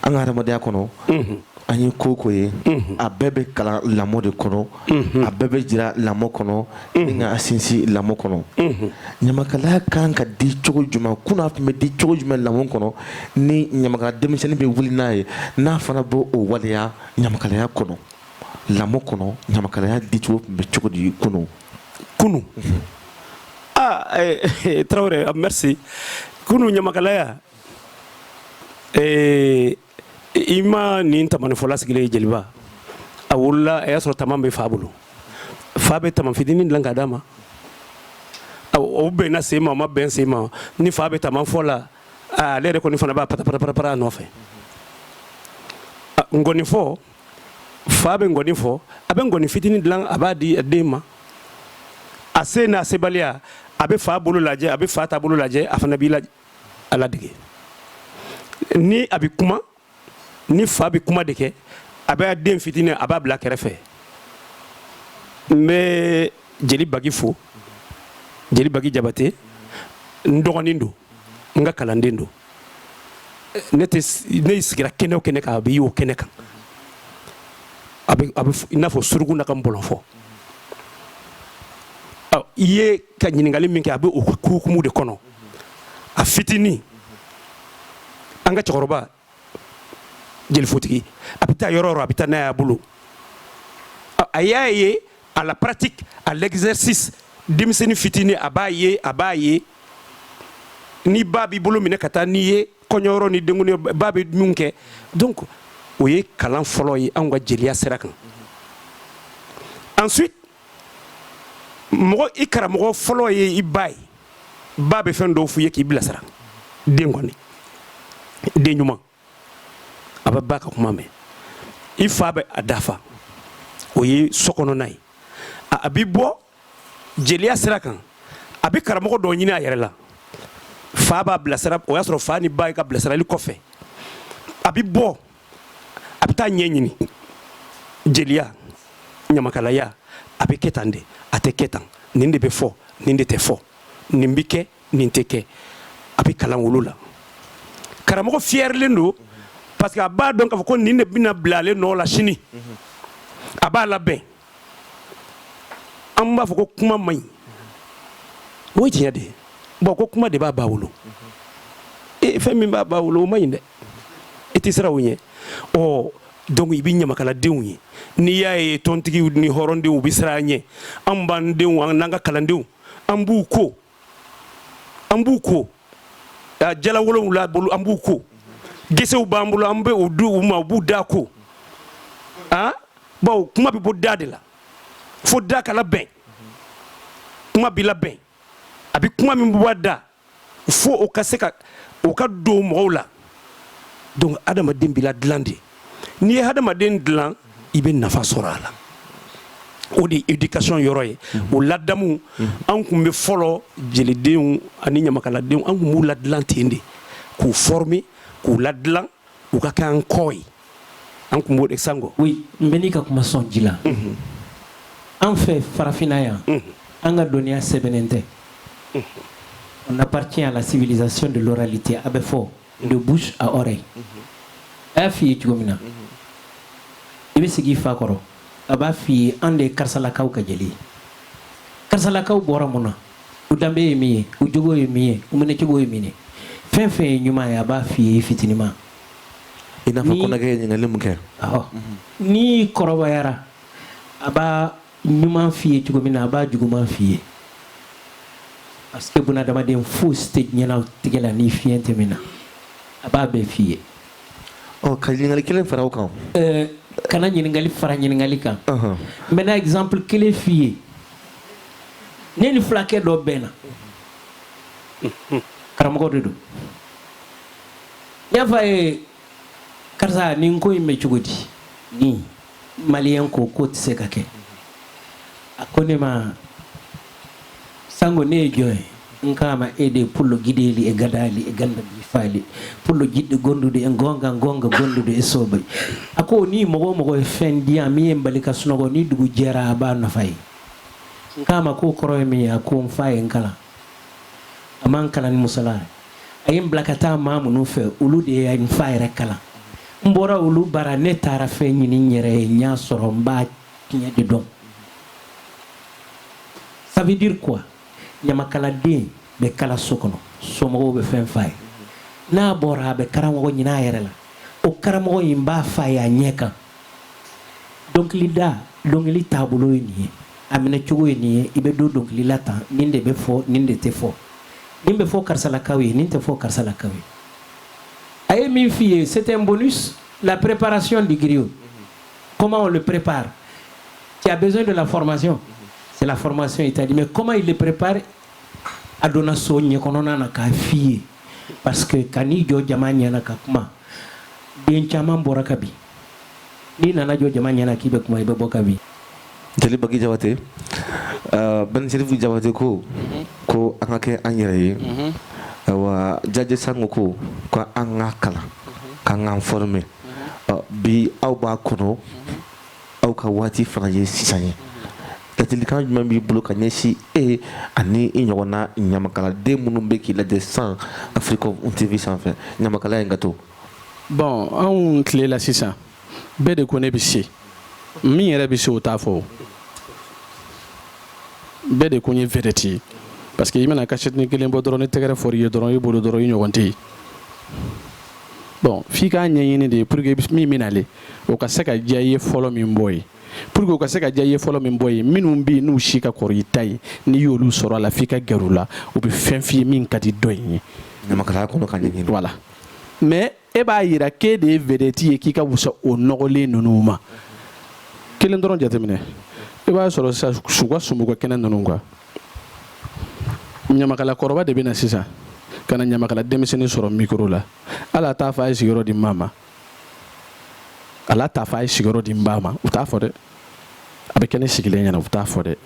an ka hadamadenya kɔnɔ mm-hmm. an ye ko ko ye mm-hmm. a bɛɛ bɛ kalan lamɔ de kɔnɔ mm-hmm. a bɛɛ bɛ jira lamɔ kɔnɔ ni n k'a sinsin lamɔ kɔnɔ ɲamakalaya kan ka di cogo jumɛn kunun a tun bɛ di cogo jumɛn lamɔ kɔnɔ ni ɲamakala denmisɛnnin bɛ wuli n'a ye n'a fana b'o o waleya ɲamakalaya kɔnɔ lamɔ kɔnɔ ɲamakalaya dicogo tun bɛ cogo di kunun kunu aa eh, eh, tarawele merci kunu ɲamakalaya eh, i ma nin tamanifɔla sigilen ye jeliba a wolola a y'a sɔrɔ taman bɛ fa bolo fa bɛ taman fitinin dilan k'a d'a ma o bɛnna sen ma o ma bɛn sen ma ni fa bɛ taman fɔ la ale yɛrɛ kɔni fana b'a patapatapatapara a nɔfɛ nkɔnifɔ fa bɛ ngɔni fɔ a bɛ ngɔni fitinin dilan a b'a di a den ma a se n'a sebaliya a bɛ fa bolo lajɛ a bɛ fa ta bolo lajɛ a fana b'i la a ladege ni a bɛ kuma ni fa bɛ kuma de kɛ a bɛ den fitinin a b'a bila kɛrɛfɛ n bɛ jeli bagi fo jeli bagi jabate n dɔgɔnin don n ka kalanden don ne ne sigira kɛnɛ o kɛnɛ kan a bɛ y'o kɛnɛ kan a bɛ i n'a fɔ suruku n'a ka nbɔlɔnfɔ i y'i ka ɲininkali min kɛ a bɛ o hukumu de kɔnɔ a fitinin an ka cɛkɔrɔba jeli fotigi a bɛ taa yɔrɔ o yɔrɔ a bɛ taa n'a y'a bolo a y'a ye à la pratique à l'exercice denmisɛnnin fitinin a b'a ye a b'a ye ni ba b'i bolo minɛ ka taa n'i ye kɔɲɔyɔrɔ ni denkundi ba bɛ mun kɛ donc o ye kalan fɔlɔ ye anw ka jeliya sira kan ensuite mɔgɔ i karamɔgɔ fɔlɔ ye i ba ye ba bɛ fɛn dɔw f'i ye k'i bilasira den kɔni den ɲuman a bɛ ba ka kuma mɛn i fa bɛ a dafa o ye sokɔnɔna ye a bɛ bɔ jeliya sira kan a bɛ karamɔgɔ dɔw ɲini a yɛrɛ la fa b'a bilasira o y'a sɔrɔ fa ni ba ye ka bilasirali kɔfɛ a bɛ bɔ a bɛ taa ɲɛ ɲini jeliya ɲamakalaya a bɛ kɛ tan de a tɛ kɛ tan nin de bɛ fɔ nin de tɛ fɔ nin bɛ kɛ nin tɛ kɛ a bɛ kalan olu la karamɔgɔ fiyɛrilen don parce que a b'a dɔn k'a fɔ ko nin de bɛna bila ale nɔ la sini a b'a labɛn an b'a fɔ ko kuma man ɲi o ye tiɲɛ de ye bon ko kuma de b'a ba wolo e fɛn min b'a ba wolo o man ɲi dɛ i tɛ siran o ɲɛ ɔ donc i bɛ ɲamakaladenw ye n'i y'a ye tɔntigiw ni hɔrɔndenw u bɛ siran an ɲɛ an b'an denw an n'an ka kalandenw an b'u ko an b'u ko a jala wolonwula bolo an b'u ko gesew b'an bolo an bɛ u di u ma u b'u da ko a bawo kuma bɛ bɔ da de la fo da ka labɛn kuma bɛ labɛn a bɛ kuma min bɔ a da fo o ka se ka o ka don mɔgɔw la donc adamaden bɛ ladilan de n'i ye hadamaden dilan i bɛ nafa sɔrɔ a la o de ye éducation yɔrɔ ye o ladamu an tun bɛ fɔlɔ jelidenw ani ɲamakaladenw an tun b'u ladilan ten de k'u former k'u ladilan u ka kɛ an kɔ ye an tun b'o de sango oui n bɛ n'i ka kuma sɔn ji la an fɛ farafinna yan an ka dɔnniya sɛbɛnnen tɛ on appartient à la civilisation de l'oralité a bɛ fɔ de bouche à oreille a y'a f'i ye cogo min na i bɛ sigi i fa kɔrɔ a b'a f'i ye an de ye karisalakaw ka jeli ye karisalakaw bɔra mun na u danbe ye min ye u jogo ye min ye u minɛcogo ye min ye fɛn fɛn ye ɲuman ye a b'a f'i ye i fitinima i n'a fɔ kɔnɔkɛ ye ɲininkali min kɛ n'i kɔrɔbayara a b'a ɲuman f'i ye cogo min na a b'a juguman f'i ye parce que bunadamaden fosi tɛ diɲɛnatigɛ la ni fiɲɛ tɛ min na a b'a bɛɛ f'i ye ɔ ka ɲininkali kelen fara o kan eh, kana ɲininkali fara ɲininkali kan n bɛna exemple kelen f'i ye ne ni fulakɛ dɔ bɛnna karamɔgɔ de don n y'a fɔ a ye karisa nin ko in bɛ cogo di nin malien ko k'o tɛ se ka kɛ a ko ne ma sango ne ye jɔn ye n k'a ma e de pullo gideeli e gadaali e ganda bi faali pullo jiɗɗo gondude e gonga gonga gondude e soobay a ko ni mɔgɔ o mɔgɔ ye fɛn diya min ye n bali ka sunɔgɔ ni dugu jɛra a b'a nafa ye n k'a ma k'o kɔrɔ ye min ye a ko n fa ye n kalan a ma n kalan ni musala a ye n bila ka taa maa minnu fɛ olu de ye n fa yɛrɛ kalan n bɔra olu bara ne taara fɛn ɲini n yɛrɛ ye n y'a sɔrɔ n b'a tiɲɛ de dɔn ça veut dire quoi ɲamakaladen bɛ kalan so kɔnɔ somɔgɔw bɛ fɛn f'a ye n'a bɔra a bɛ karamɔgɔ ɲin'a yɛrɛ la o karamɔgɔ in b'a f'a ye a ɲɛ kan dɔnkilida dɔnkili taabolo ye nin ye a minɛcogo ye nin ye i bɛ don dɔnkili la tan nin de bɛ fɔ nin de tɛ fɔ nin bɛ fɔ karisalakaw ye nin tɛ fɔ karisalakaw ye a ye min f'i ye c'est un bonus la préparation du griot comment on le prépare tu as besoin de la formation c'est la formation il t'a dit mais comment il le prépare a donna sujet kɔnɔna na k'a f'i ye parce que ka n'i jɔ jama ɲɛna ka kuma den caman bɔra ka bin n'i nana jɔ jama ɲɛna k'i bɛ kuma i bɛ bɔ ka bin jeli bagi jabate uh, bɛn serifu jabate ko mhm. ko an ka kɛ an yɛrɛ ye mhm. wa jaje sango ko ko an ka kalan mhm. k'an k'an former uh, bi aw b'a kɔnɔ aw ka waati fana ye sisan ye ladilikan jumɛn b'i bolo ka ɲɛsin e ani i ɲɔgɔnna ɲamakaladen minnu bɛ k'i lajɛ san africom tv sanfɛ ɲamakalaya in ka to bon anw tile la sisan bɛɛ de ko ne bɛ se min yɛrɛ bɛ se o t'a fɔ bɛɛ de ko n ye vedette ye parce que i mana cassette kelen bɔ dɔrɔn ni tɛgɛrɛ fɔr'i ye dɔrɔn i bolo dɔrɔn i ɲɔgɔn tɛ yen bon f'i k'a ɲɛɲini de ye pour que min bɛ nalen o ka se ka diya i ye fɔlɔ min bɔ ye pour que u ka se ka diya i ye fɔlɔ min bɔ ye minnu bɛ yen n'u si ka kɔrɔ i ta ye n'i y'olu sɔrɔ a la f'i ka gɛrɛ u la u bɛ fɛn f'i ye min ka di dɔ in ye ɲamakalaya kɔnɔ ka ɲɛɲini voilà mais e b'a yira k'e de ye vedette ye k'i ka wusa o nɔgɔlen ninnu ma kelen dɔrɔn jateminɛ i b'a sɔrɔ sisan su ka sumuko kɛnɛ ninnu kan ɲamakala kɔrɔba de bɛ na sisan ka na ɲamakala denmisɛnnin sɔrɔ micro la hali a t'a fɔ a ye sigiyɔrɔ di n ba ma hali a t'a fɔ a ye sigiyɔrɔ di n ba ma u t'a fɔ dɛ a bɛ kɛ ne sigilen ɲɛna u t'a fɔ dɛ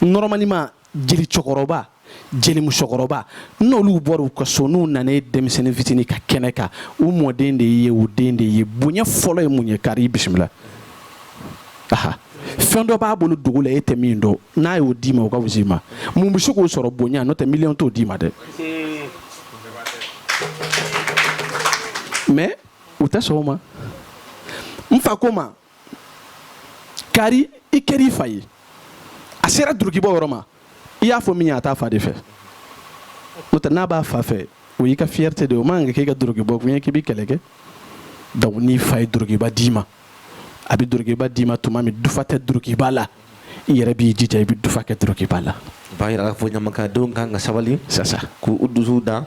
normalement jeli cɛkɔrɔba jeli musokɔrɔba n'olu bɔra u ka so n'u nana denmisɛnnin fitinin ka kɛnɛ kan u mɔden de ye u den de ye bonya fɔlɔ ye mun ye kari bisimila aha fɛn dɔ b'a bolo dugu la e tɛ min dɔn n'a y'o d'i ma o ka wusa i ma mun bɛ se k'o sɔrɔ bonya n'o tɛ miliyɔn t'o d'i ma dɛ mais u tɛ sɔn o ma n fa ko ma kari i kɛra i fa ye a sera durukibɔ yɔrɔ ma i y'a fɔ min ye a t'a fa de fɛ n'o tɛ n'a b'a fa fɛ o y'i ka fierté de ye o man kan ka k'i ka durukibɔ kun ye k'i bɛ kɛlɛ kɛ donc n'i fa ye durukiba d'i ma a bɛ durukiba d'i ma tuma min dufa tɛ durukiba la i yɛrɛ b'i jija i bɛ dufa kɛ durukiba la b'a jira k'a fɔ ɲamakaladenw kan ka sabali sa k'u dusu da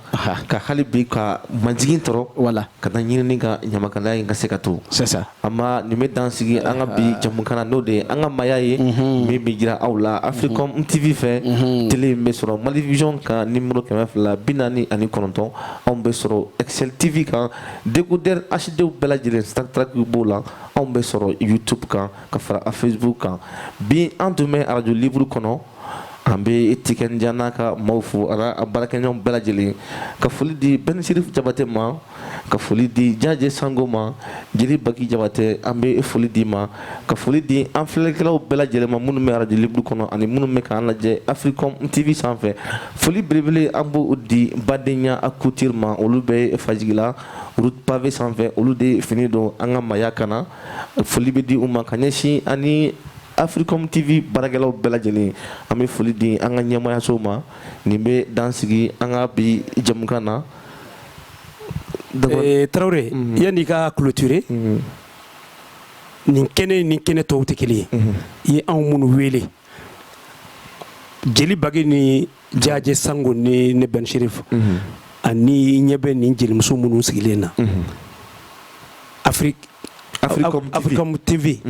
ka hali bi ka majigin sɔrɔ wala ka na ɲini ka ɲamakalaya in ka se ka to an ma nin bɛ dan sigi an ka bi jamukan na n'o de ye an ka maaya ye min bɛ jira aw la africom tv fɛ télé in bɛ sɔrɔ malivision kan numéro kɛmɛ fila bi naani ani kɔnɔntɔn anw bɛ sɔrɔ excel tv kan Décodeur HDw bɛɛ lajɛlen star track b'o la anw bɛ sɔrɔ youtube kan ka fara a facebook kan bi an tun bɛ radio libre kɔnɔ an bɛ tiken jah n'a ka maaw fo a baarakɛɲɔgɔn bɛɛ lajɛlen ka foli di ben sherif jabate ma ka foli di jajɛ sango ma jeli baki jabate an bɛ foli d'i ma ka foli di an filɛlikɛlaw bɛɛ lajɛlen ma minnu bɛ radio libre kɔnɔ ani minnu bɛ k'an lajɛ africom tv sanfɛ foli belebele an b'o di badenya couture ma olu bɛ fajigila route pavé sanfɛ olu de fini don an ka maaya kan na foli bɛ di u ma ka ɲɛsin ani africom tv baarakɛlaw bɛɛ lajɛlen an bɛ foli di an ka ɲɛmaayaso ma nin bɛ dan sigi an ka bi jamukan na eh, tarawele mm-hmm. yanni i ka clôturer mm-hmm. nin kɛnɛ ni kɛnɛ tɔw tɛ kelen ye i ye anw minnu wele jeli bagi ni jajɛ sango ni ne ben cherif ani i ɲɛ bɛ nin jelimuso minnu sigilen na africom tv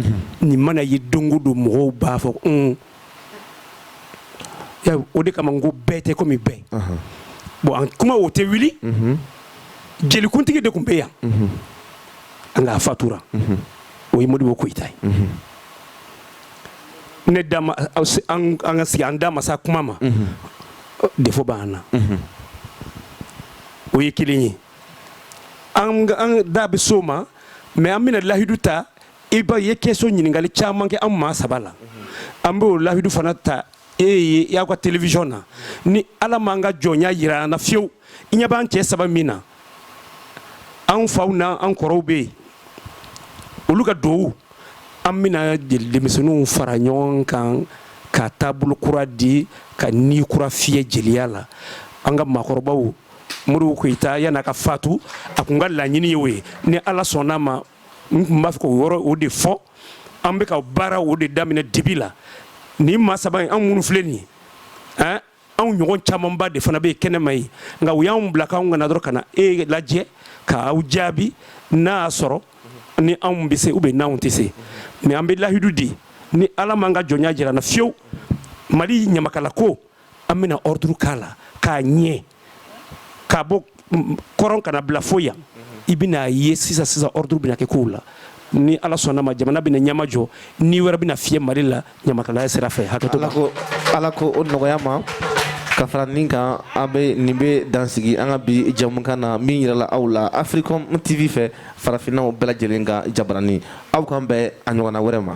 nin mana ye don o don mɔgɔw b'a fɔ o de kama n ko bɛɛ tɛ komi bɛɛ bon an kuma o tɛ wuli mhm. jelikuntigi de tun bɛ yan mhm. nka a fatura mhm. o ye modibo koyita ye ne da ma an ka sigi an da ma s'a kuma ma defo b'an na o ye kelen ye an da bɛ s'o ma mɛ an bɛna lahidu ta i ye question ɲininkali caman kɛ an maa saba la an b'o lahidu fana ta e ye aw ka télévision na ni ala m'an ka jɔnya yira an na fiyewu i ɲɛ b'an cɛ saba min na an faw na an kɔrɔw bɛ yen olu ka duwawu an bɛna denmisɛnninw fara ɲɔgɔn kan ka taabolo kura di ka ni kura fiyɛ jeliya la an ka maakɔrɔba modibo koyita yann'a ka fatu a kun ka laɲini ye o ye ni ala sɔnn'a ma n kun b'a fɛ k'o yɔrɔ o de fɔ an bɛ ka baara o de daminɛ dibi la nin maa saba in an minnu filɛ nin ye ɛn anw ɲɔgɔn camanba de fana bɛ kɛnɛma yen nka u y'anw bila k'anw ka na dɔrɔn ka na e lajɛ k'aw jaabi n'a y'a sɔrɔ ni anw bɛ se ou bien n'anw tɛ se mɛ an bɛ lahidu di ni ala m'an ka jɔnya jira an na fiyewu mali ɲamakalako an bɛna ordre k'a la k'a ɲɛ k'a bɔ kɔrɔn ka n'a bila fo yan i bɛna a ye sisan sisan ordre bɛna kɛ kow la ni ala sɔnn'a ma jamana bɛna ɲɛma jɔ ni wɛrɛ bɛna fiyɛ mali la ɲamakalaya sira fɛ hakɛto ala k'o nɔgɔya an ma ka fara nin kan an bɛ nin bɛ dansigi an ka bi jamukan na min yirala aw la africom tv fɛ farafinnaw bɛɛ lajɛlen ka jabaranin aw k'an bɛn a ɲɔgɔnna wɛrɛ ma